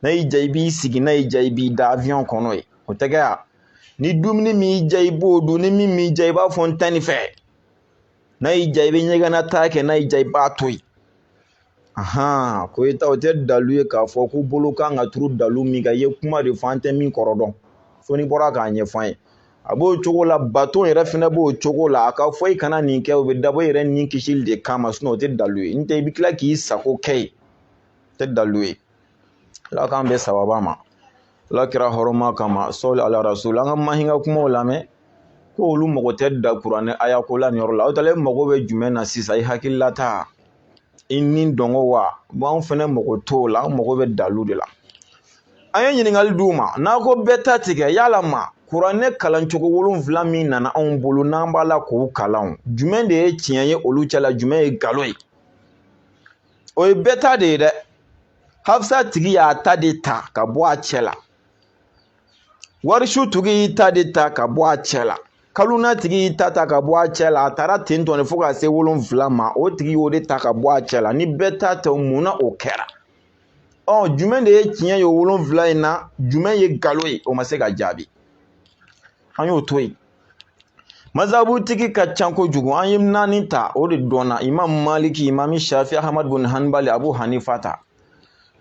n'a y'i diya i b'i sigi n'a y'i diya i b'i da avion kɔnɔ ye o tɛ kɛ yan ni dumuni min y'i diya i b'o dun ni min m'i diya i b'a fɔ n tɛ nin fɛ n'a y'i diya i bɛ ɲɛgɛnna taa kɛ n'a y'i diya i b'a to yen ahan koyita o tɛ dalu ye k'a fɔ ko bolo kan ka turu dalu min kan i ye kuma de fɔ an tɛ min kɔrɔ dɔn fo n'i bɔra k'a ɲɛf'an ye a b'o cogo la bato yɛrɛ fɛnɛ b'o cogo la a k'a fɔ i kana nin kɛ o bɛ dabɔ i yɛrɛ ni kisili de kama sinɔn o tɛ dalu ye n tɛ i bɛ tila k'i sago kɛ yen o tɛ dalu ye ala k'an bɛn sababa ma ala kira hɔrɔma kama sɔli ala rasul an ka mahi ka kumaw lamɛn ko olu mago tɛ da kuranɛ aya ko la nin yɔrɔ la aw talen mago bɛ jumɛn na sisan i hakililata i nidungɔ wa bon anw fana mago t'o la an mago bɛ dalu de la an ye ɲininkali d'u ma n'a ko bɛɛ ta tɛ kɛ yalama kuranɛ kalancogo wolonfila min nana anw bolo n'an b'a la k'o kalan jumɛn de ye tiɲɛ ye olu cɛla jumɛn ye nkalon ye o ye bɛɛ ta de ye dɛ hafsa tigi y'a ta de ta ka bɔ a cɛ la warisu tigi y'i ta de ta ka bɔ a cɛ la kaluna tigi y'i ta ta ka bɔ a cɛ la a taara ten tɔ de fo ka se wolonfila ma o tigi y'o de ta ka bɔ a cɛ la ni bɛɛ ta tɛ mun na o kɛra ɔ jumɛn de ye tiɲɛ ye wolonfila in na jumɛn ye nkalon ye o ma se ka jaabi an y'o to yen mazabutigi ka ca kojugu an ye naani ta o de dɔnna imam maliki imam shafi ahmad bin hanbali abu hanifa ta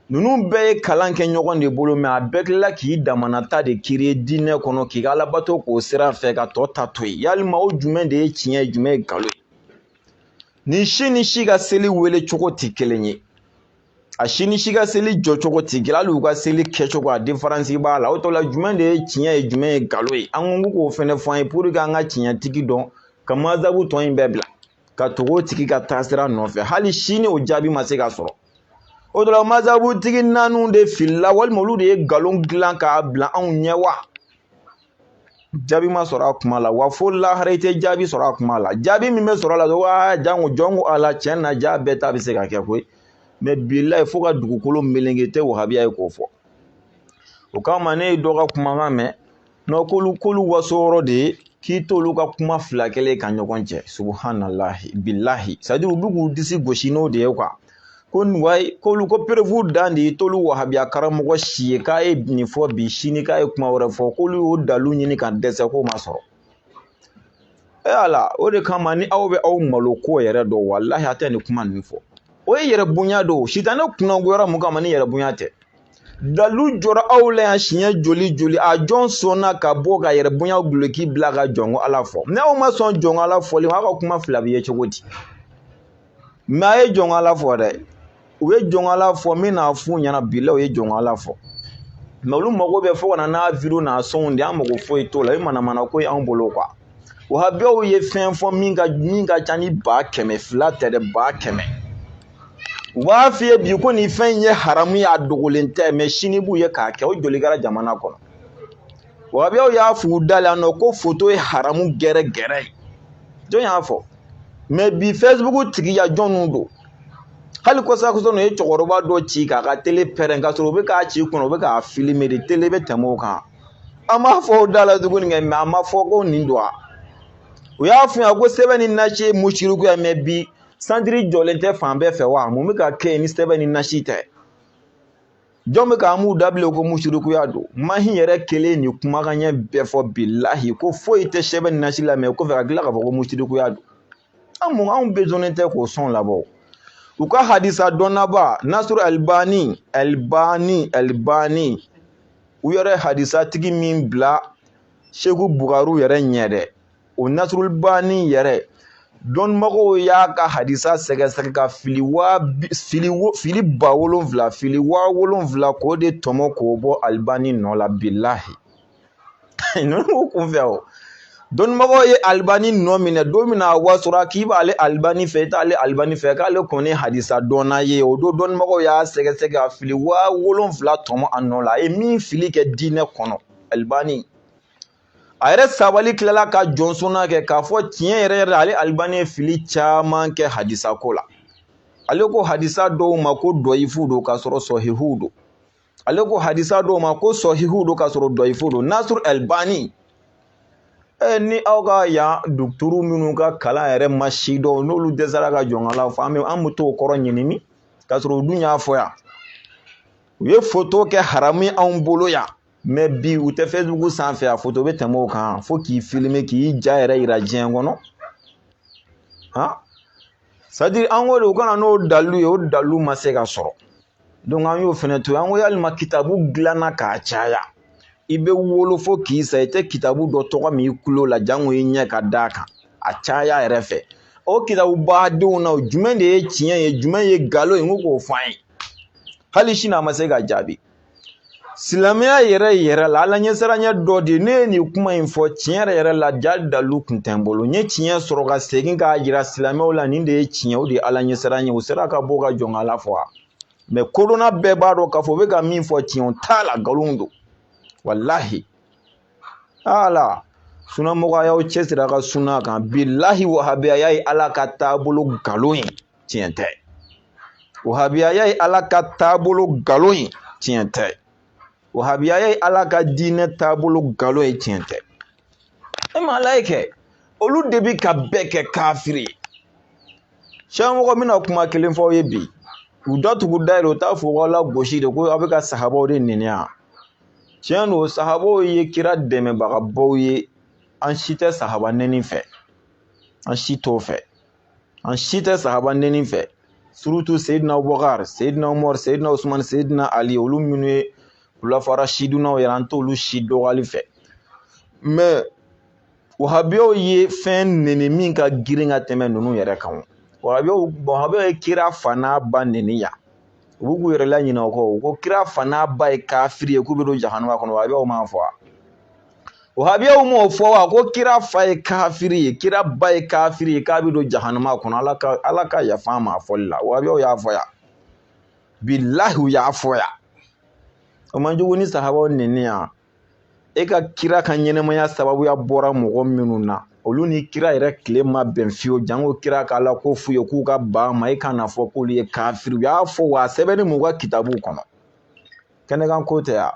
ninnu bɛɛ ye kalan kɛ ɲɔgɔn de bolo mɛ a bɛɛ tilala k'i damanata de kiri diinɛ kɔnɔ k'i ka alabato k'o sira fɛ ka tɔ ta to yen yalima o jumɛn de ye tiɲɛ ye jumɛn ye nkalon ye nin si ni si ka seli wele cogo tɛ kelen ye a si ni si ka seli jɔcogo tɛ kelen hali u ka seli kɛcogo a diferansi b'a la o tɔ la jumɛn de ye tiɲɛ ye jumɛn ye nkalon ye an ko k'o fɛnɛ fɔ an ye puruke an ka tiɲɛtigi dɔn ka mazabu tɔ in bɛɛ bila ka tugu o tigi ka taasira nɔfɛ hali sini o jaabi ma se ka sɔrɔ o tɔ la mazabutigi naaniw de filila walima olu de ye nkalon dilan k'a bila anw ɲɛ wa jaabi ma sɔrɔ a kuma la wa fo lahara i tɛ jaabi sɔrɔ a kuma la jaabi min bɛ sɔrɔ a la dɔrɔn aa janko jɔnko ala tiɲɛ na jaa bɛɛ ta bɛ se ka kɛ koyi mɛ bilahi fo ka dugukolo meleke tɛ wahabiya ye k'o fɔ o kama ne ye dɔ ka kumakan mɛn n'o k'olu k'olu waso yɔrɔ de ye k'i t'olu ka kuma fila kɛlen ka ɲɔgɔn cɛ subuhanalahi bilahi sadi u bɛ k'u disi gosi n'o de ye kuwa ko wayi k'olu ko perefu dan de ye t'olu wahabiya karamɔgɔ si ye k'a ye nin fɔ bi sini k'a ye kuma wɛrɛ fɔ k'olu y'o dalu ɲini ka dɛsɛ k'o ma sɔrɔ e ala o de kama ni aw bɛ aw malo ko yɛrɛ dɔn walahi a tɛ nin kuma ninnu fɔ o ye yɛrɛ bonya don sitanɛ kunnangoyara mun kama ni yɛrɛ bonya tɛ dalu jɔra aw la yan siɲɛ joli joli a jɔn sɔnna ka bɔ ka yɛrɛ bonya guloki bila ka jɔnko ala fɔ ni aw ma sɔn jɔnko ala fɔli ma aw ka kuma fila bɛ ye cogo di mɛ a ye jɔnko ala fɔ dɛ u ye jɔnko ala fɔ min n'a f'u ɲɛna bilahi u ye jɔnko ala fɔ mɛ olu mago bɛ fo ka na n'a wideyow n'a sɔnw de an mago foyi t'o la i manamanako y'an bolo kuwa wahabiyaw ye fɛn fɔ min ka min ka ca ni ba kɛmɛ fila tɛ dɛ ba kɛmɛ u b'a f'i ye bi ko nin fɛn in ye haramu ye a dogolen tɛ mɛ sini b'u ye k'a kɛ o joli kɛra jamana kɔnɔ wahabiyaw y'a f'u da la nɔ ko foto ye haramu gɛrɛ gɛrɛ ye jɔn y'a fɔ mɛ bi fɛsibuku tigiya jɔnw don hali kɔsakɔsa ninnu ye cɛkɔrɔba dɔ ci k'a ka tele pɛrɛn k'a sɔrɔ u bɛ k'a ci kɔnɔ u bɛ k'a filime de tele bɛ tɛmɛ o kan an m'a fɔ o da la tuguni kɛ mɛ an ma fɔ ko nin don wa u y'a f'u ɲɛna ko sɛbɛn ni nasi ye musirikuya ye mɛ bi santiri jɔlen tɛ fan bɛɛ fɛ wa mun bɛ ka kɛ yen ni sɛbɛn ni nasi tɛ jɔn bɛ k'an b'u dabila ko musirikuya don mahi yɛrɛ kelen nin kumakan ɲɛ bɛɛ fɔ bilahi ko foyi tɛ sɛbɛn ni nasi la mɛ kɔfɛ ka tila k'a fɔ ko musirikuya don an anw bezonnen tɛ k'o sɔn labɔ u ka hadisa dɔnnaba nasiru alibani alibani alibani u yɛrɛ hadisa tigi min bila seku bukariw yɛrɛ ɲɛ dɛ o nasiru alibani yɛrɛ dɔnnibagaw y'a ka hadisa sɛgɛsɛgɛ ka fili waa fili fili ba wolonfila fili waa wolonfila k'o de tɔmɔ k'o bɔ alibani nɔ la bilahi ninnu kun fɛ o dɔnnibagaw ye alibani nɔ minɛ don min na a wasora k'i b'ale alibani fɛ i t'ale alibani fɛ k'ale kɔni hadisa dɔnna ye o don dɔnnibagaw y'a sɛgɛsɛgɛ ka fili waa wolonfila tɔmɔ a nɔ la a ye min fili kɛ diinɛ kɔnɔ alibani a yɛrɛ sabali tilala ka jɔnsɔnna kɛ k'a fɔ tiɲɛ yɛrɛ yɛrɛ ale alibani ye fili caman kɛ hadisa ko la ale ko hadisa dɔw ma ko dɔyifu don k'a sɔrɔ sɔhihuw don ale ko hadisa dɔw ma ko sɔhihuw don k'a sɔrɔ dɔyifu don nasuru alibani ni aw ka yan dɔkitɛriw minnu ka kalan yɛrɛ ma si dɔn n'olu dɛsɛra ka jɔn k'ala fɔ an bɛ an bɛ t'o kɔrɔ ɲinini k'a sɔrɔ u dun y'a fɔ yan u ye foto kɛ haramu ye anw bolo yan mɛ bi u tɛ facebook sanfɛ a foto bɛ tɛmɛ o kan fo k'i filime k'i ja yɛrɛ yira diɲɛ kɔnɔ han c'est à dire an ko de u ka na n'o dalilu ye o dalilu ma se ka sɔrɔ donc an y'o fɛnɛ to yen an ko yalima kitabu dilanna k'a caya i bɛ wolo fo k'i sa i tɛ kitabu dɔ tɔgɔ mɛn i kulo la jango i ɲɛ ka d'a kan a caya yɛrɛ fɛ o kitabu badenw na jumɛn de ye tiɲɛ ye jumɛn ye nkalon ye n ko k'o fɔ an ye hali sini a ma se ka jaabi silamɛya yɛrɛ yɛrɛ la ala ɲɛsiranya dɔ de ye ne ye nin kuma in fɔ tiɲɛ yɛrɛ yɛrɛ la ja dalu kun tɛ n bolo n ye tiɲɛ sɔrɔ ka segin k'a jira silamɛw la nin de ye tiɲɛ o de ye ala ɲɛsiranya u sera ka bɔ ka jɔn ka ala fɔ wa mɛ kodɔnna bɛɛ b'a dɔn k'a fɔ u bɛ ka min fɔ tiɲɛ o t'a la nkalon don walahi ala sunamɔgɔw a y'aw cɛsiri a ka suna kan bilahi wahabiyaya ye ala ka taabolo nkalon ye tiɲɛ tɛ wahabiyaya ye ala ka taabolo nkalon ye tiɲɛ tɛ wahabiyaya ye ala ka diinɛ taabolo nkalon ye tiɲɛ tɛ e ma ala ye kɛ olu de bi ka bɛɛ kɛ kafiri ye siyamɔgɔ mana kuma kelen fɔ u ye bi u datugu dayɛlɛ u t'a fɔ ko ala gosi de ko aw bɛ ka sahabaw de nɛni yan tiɲɛ don sahabaw ye kira dɛmɛbagabaw ye an si tɛ sahaba nɛni fɛ an si t'o fɛ an si tɛ sahaba nɛni fɛ surtout seyidina abubakar seyidina umar seyidina usman seyidina ali olu minnu ye kulafa rasidunaw yɛrɛ an t'olu si dɔgɔyali fɛ mɛ wahabiyaw ye fɛn nɛni min ka girin ka tɛmɛ ninnu yɛrɛ kan wahabiyaw ye kira fa n'a ba nɛni yan u bɛ k'u yɛrɛ laɲinɛ o kɔ u ko kira fa n'a ba ye kafiri ye k'u bɛ don jahanama kɔnɔ wahabiyaw m'a fɔ wa wahabiyaw m'o fɔ wa ko kira fa ye kafiri ye kira ba ye kafiri ye k'a bɛ don jahanama kɔnɔ ala ka yafa an ma a fɔli la wahabiyaw y'a fɔ yan bilahi u y'a fɔ yan o man jugu ni sahabaw nɛni yan e ka kira ka ɲɛnɛmaya sababuya bɔra mɔgɔ minnu na olu ni kira yɛrɛ tile ma bɛn fiyewu janko kira k'ala ko f'u ye k'u ka ban a ma e ka n'a fɔ k'olu ye kafiri u y'a fɔ wa a sɛbɛnnen b'u ka kitabuw kɔnɔ kɛnɛkan ko tɛ yan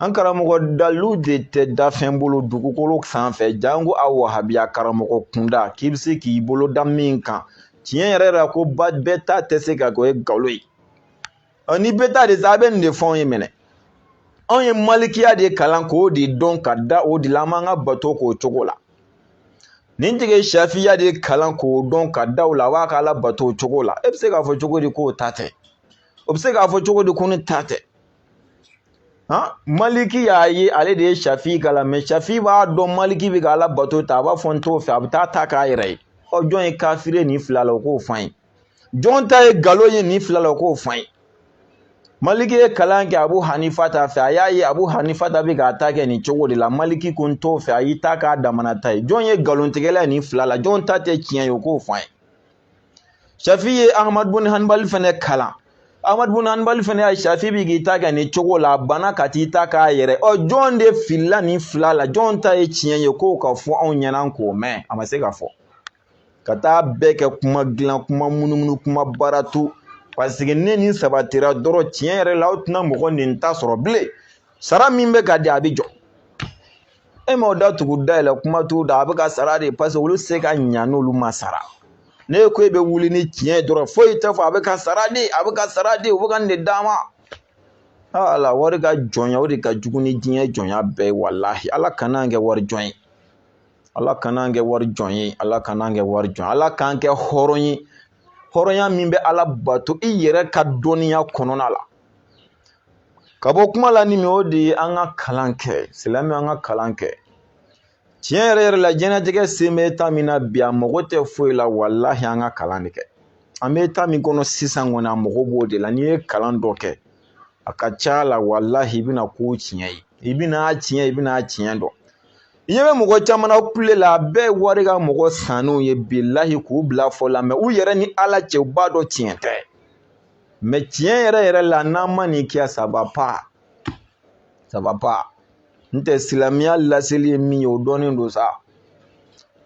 an karamɔgɔ dalilu de tɛ danfɛn bolo dugukolo sanfɛ janko a wahabiya karamɔgɔ kunda k'i bɛ se k'i bolo da min kan tiɲɛ yɛrɛ la ko bɛɛ ta tɛ se ka kɛ o ye nkalon ye ɔ ni bɛ taa de sa a bɛ nin de fɔ anw ye minɛ anw ye malikiya de kalan k'o de dɔn ka da o de la an b'an ka bato k'o cogo la nin tigi shafiya de kalan k'o dɔn ka da o la a b'a ka ala bato o cogo la e bɛ se k'a fɔ cogo di k'o ta tɛ o bɛ se k'a fɔ cogo di ko ne ta tɛ han maliki y'a ye ale de ye shafi kalan mɛ shafi b'a dɔn maliki bɛ ka ala bato ta a b'a fɔ n t'o fɛ a bɛ taa ta k'a yɛrɛ ye ɔ jɔn ye kafiri ye nin fila la o k'o fɔ an ye jɔn ta ye nkalon ye nin fila la o k'o f'an ye maliki ye kalan kɛ abu hanifata fɛ a y'a ye abu hanifata bɛ k'a ta kɛ nin cogo de la maliki ko n t'o fɛ a y'i ta k'a damana ta ye jɔn ye nkalontigɛla ye nin fila la jɔn ta tɛ tiɲɛ ye o k'o f'an ye shafi ye ahmad bun hanbali fɛnɛ kalan ahmad bun hanbali fɛnɛ y'a ye shafi bɛ k'i ta kɛ nin cogo la a banna ka t'i ta k'a yɛrɛ ɔ jɔn de filila nin fila la jɔn ta ye tiɲɛ ye k'o ka fɔ anw ɲɛna k'o mɛn a ma se k'a fɔ ka taa bɛɛ kɛ kuma dilan kuma munumunu kuma baara tu paseke ne ni sabatira dɔrɔn tiɲɛ yɛrɛ la aw tɛna mɔgɔ nin ta sɔrɔ bilen sara min bɛ ka di a bɛ jɔ e m'aw da tugu dayɛlɛ kuma t'u da a bɛ ka sara de paseke olu tɛ se ka ɲa n'olu ma sara ne ko e bɛ wuli ni tiɲɛ ye dɔrɔn foyi tɛ fɔ a bɛ ka sara de a bɛ ka sara de u bɛ ka nin de d'a ma ala wari ka jɔnya o de ka jugu ni diɲɛ jɔnya bɛɛ ye walahi ala kana an kɛ wari jɔn ye ala kana an kɛ wari jɔn ye ala kana an kɛ wari jɔn ala k'an kɛ hɔrɔn ye hɔrɔnya min bɛ ala bato i yɛrɛ ka dɔnniya kɔnɔna la ka bɔ kuma la ni min o de ye an ka kalan kɛ silamɛ an ka kalan kɛ tiɲɛ yɛrɛ yɛrɛ la diɲɛnatigɛ sen bɛ taa min na bi a mago tɛ foyi la walahi an ka kalan de kɛ an bɛ taa min kɔnɔ sisan kɔni a mago b'o de la n'i ye kalan dɔ kɛ a ka ca la walahi i bɛna ko tiɲɛ ye i bɛna tiɲɛ i bɛna tiɲɛ dɔn i ɲɛ bɛ mɔgɔ caman na kule la a bɛɛ ye wari ka mɔgɔ sannenw ye bilahi k'u bila a fɔ la mɛ u yɛrɛ ni ala cɛ u b'a dɔn tiɲɛ tɛ mɛ tiɲɛ yɛrɛ yɛrɛ la n'an ma nin kɛ saba pa saba pa n tɛ silamɛya laseli ye min ye o dɔnnen don sa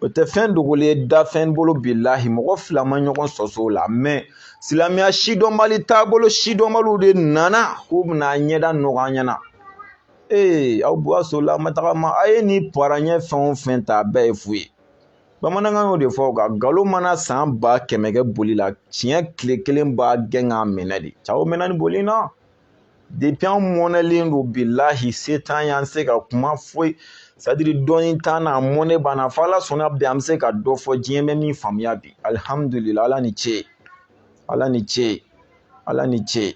o tɛ fɛn dogolen ye dafɛn bolo bilahi mɔgɔ fila ma ɲɔgɔn sɔsɔ o la mɛ silamɛya si dɔnbali taabolo si dɔnbaliw de nana k'u bɛna ɲɛda nɔgɔ an ɲɛna ee aw bu aw sola ma tagama a ye ni paranyɛ fɛn o fɛn ta a bɛɛ ye fu ye bamanankan y'o de fɔ ko nkalon mana san ba kɛmɛ kɛ boli la tiɲɛ tile kelen b'a gɛn k'a minɛ dɛ cɛw mɛnna ni boli na depi an mɔnɛlen don bilahi se t'an y'an se ka kuma foyi sadiri dɔɔni t'an na mɔnɛ banna fo ala sɔnna bi an bɛ se ka dɔ fɔ diɲɛ bɛ min faamuya bi alihamudulila ala ni ce ala ni ce ala ni ce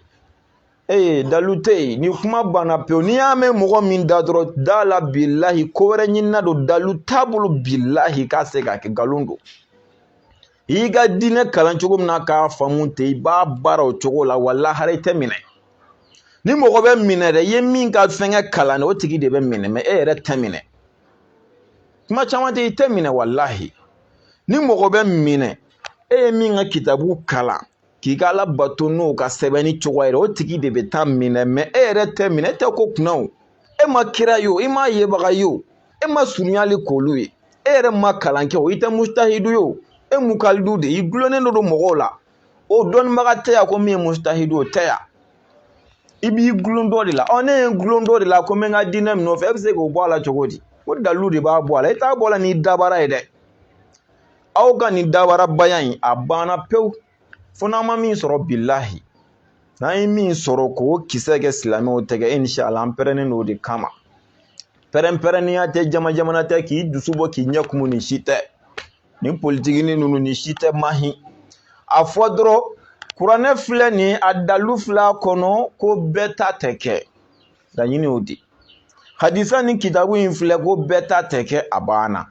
ee dalu tɛ yen ni kuma banna pewu n'i y'a mɛn mɔgɔ min da dɔrɔn da la bilahi ko wɛrɛ ɲinina don dalu t'a bolo bilahi k'a se k'a kɛ nkalon don i y'i ka diinɛ kalan cogo min na k'a faamu ten i b'a baara o cogo la wa lahara i tɛ minɛ ni mɔgɔ bɛ minɛ dɛ i ye min ka fɛnkɛ kalan dɛ o tigi de bɛ minɛ mɛ e yɛrɛ tɛ minɛ kuma caman tɛ i tɛ minɛ walahi ni mɔgɔ bɛ minɛ e ye min ka kitabu kalan k'i ka ala bato n'o ka sɛbɛnni cogoya yɛrɛ o tigi de bɛ taa minɛ mɛ e yɛrɛ tɛ minɛ e tɛ ko kunna o e ma kira ye o i ma yebaga ye o e ma surunyali k'olu ye e yɛrɛ ma kalan kɛ o i tɛ mustahidu ye o e mukalidu de i gulonnen don mɔgɔw la o dɔnnibaga tɛ yan ko min ye mustahidu o tɛ yan i b'i gulon dɔ de la ɔ ne ye n gulon dɔ de la ko n bɛ n ka diinɛ min nɔfɛ e bɛ se k'o bɔ a la cogo di o dalilu de b'a bɔ a la i t'a bɔ a la n'i dabara ye dɛ aw ka nin dabarabaya in a banna pewu fo n'an ma min sɔrɔ bilahi n'an ye min sɔrɔ k'o kisɛ kɛ silamɛw tɛgɛ inshallah an pɛrɛnnen don o de kama pɛrɛnpɛrɛnnenya tɛ jama jamana tɛ k'i dusu bɔ k'i ɲɛ kumu nin si tɛ nin politigini ninnu nin si tɛ mahi a fɔ dɔrɔn kuranɛ filɛ nin a dalu filɛ a kɔnɔ ko bɛɛ ta tɛ kɛ laɲini y'o di hadisa ni kitabu in filɛ ko bɛɛ ta tɛ kɛ a banna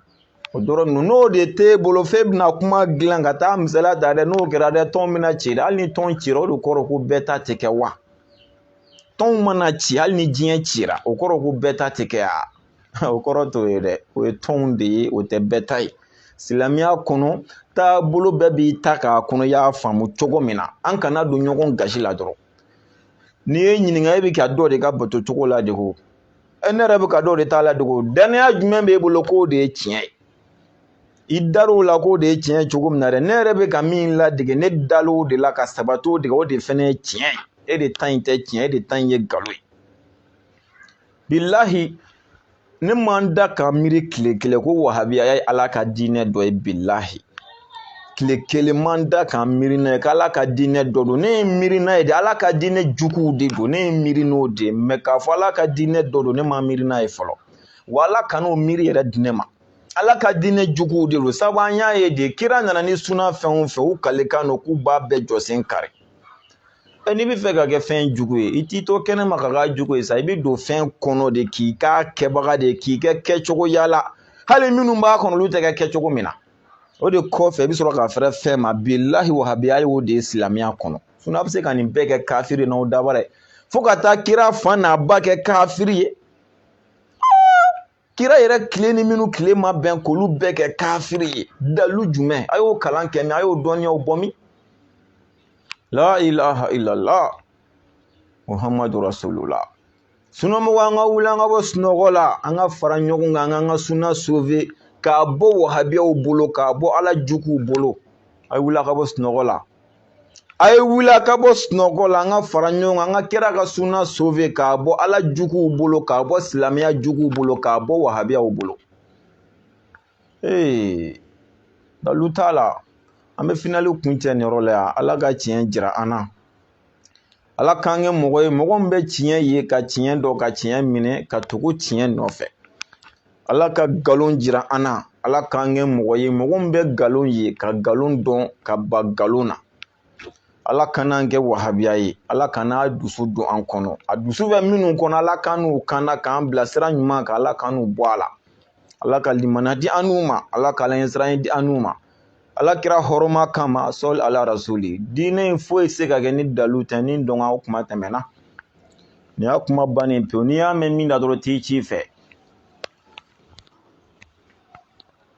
o dɔrɔn ninnu n'o de t'e bolo f'e bɛna kuma dilan ka taa misaliya ta dɛ n'o kɛra dɛ tɔn bɛna ci dɛ hali ni tɔn cira o de kɔrɔ ko bɛɛ ta tɛ kɛ wa tɔnw mana ci hali ni diɲɛ cira o kɔrɔ ko bɛɛ ta tɛ kɛ a o kɔrɔ t'o ye dɛ o ye tɔnw de ye o tɛ bɛɛ ta ye silamɛya kɔnɔ taabolo bɛɛ b'i ta k'a kɔnɔ i y'a faamu cogo min na an kana don ɲɔgɔn gasi la dɔrɔn n'i ye ɲininka e bɛ ka dɔ de ka bato cogo ladege o e ne yɛrɛ bɛ ka dɔ de ta ladege o dannaya jumɛn b'e bolo k'o de ye tiɲɛ ye i dar'o la k'o de ye tiɲɛ ye cogo min na dɛ ne yɛrɛ bɛ ka min ladege ne dal'o de la ka sabat'o de kan o de fana ye tiɲɛ ye e de ta in tɛ tiɲɛ e de ta in ye nkalon ye bilahi ne man da ka miiri tile kelen ko wahabiya ye ala ka diinɛ dɔ ye bilahi tile kelen man da ka miiri n'a ye k'ala ka diinɛ dɔ don ne ye miiri n'a ye de ala ka diinɛ juguw de don ne ye miiri n'o de ye mɛ k'a fɔ ala ka diinɛ dɔ don ne ma miiri n'a ye fɔlɔ wa ala kan'o miiri yɛrɛ di ne ma ala ka diinɛ juguw de don sabu an y'a ye de kira nana ni suna fɛn o fɛn u kalikan don k'u b'a bɛɛ jɔsen kari n'i bɛ fɛ ka kɛ fɛn jugu ye i t'i to kɛnɛma ka k'a jugu ye sa i bɛ don fɛn kɔnɔ de k'i k'a kɛbaga de ye k'i kɛ kɛcogoya la hali minnu b'a kɔnɔ olu tɛ kɛ kɛcogo min na o de kɔfɛ i bɛ sɔrɔ ka fɛrɛ fɛn ma bilahi wahabiya y'o de ye silamɛya kɔnɔ a bɛ se ka nin bɛɛ kɛ kafiri ye n'aw dabara ye fo ka taa kira fa n'a ba kɛ kafiri ye kira yɛrɛ tile ni minnu tile ma bɛn k'olu bɛɛ kɛ kafiri ye dalu jumɛn a y'o kalan kɛ min a y'o dɔnniyaw bɔ min la ilaha illallah muhammadu rasulullah sunamɔgɔ an ka wuli an ka bɔ sunɔgɔ la an ka fara ɲɔgɔn kan an k'an ka suna sove k'a bɔ wahabiyaw bolo k'a bɔ ala juguw bolo a ye wuli a ka bɔ sunɔgɔ la a ye wuli a ka bɔ sunɔgɔ la an ka fara ɲɔgɔn kan an ka kira ka suna sove k'a bɔ ala juguw bolo k'a bɔ silamɛya juguw bolo k'a bɔ wahabiyaw bolo ee dalu t'a la an bɛ finali kuncɛ nin yɔrɔ la yan ala ka tiɲɛ jira an na ala k'an kɛ mɔgɔ ye mɔgɔ min bɛ tiɲɛ ye ka tiɲɛ dɔn ka tiɲɛ minɛ ka tugu tiɲɛ nɔfɛ ala ka nkalon jira an na ala k'an kɛ mɔgɔ ye mɔgɔ min bɛ nkalon ye ka nkalon dɔn ka ban nkalon na ala kan'an kɛ wahabiya ye ala kana a dusu don an kɔnɔ a dusu bɛ minnu kɔnɔ ala k'an n'u kanna k'an bila sira ɲuman kan ala k'an n'u bɔ a la ala ka limaniya di an n'u ma ala ka alaɲɛsiranya di an n'u ma ala kira hɔrɔma kama sallu ala rasuli diinɛ in foyi se ka kɛ ni dalu tɛ ni dɔnka o kuma tɛmɛna nin y'a kuma bannen pewu n'i y'a mɛn min da dɔrɔn t'i ci fɛ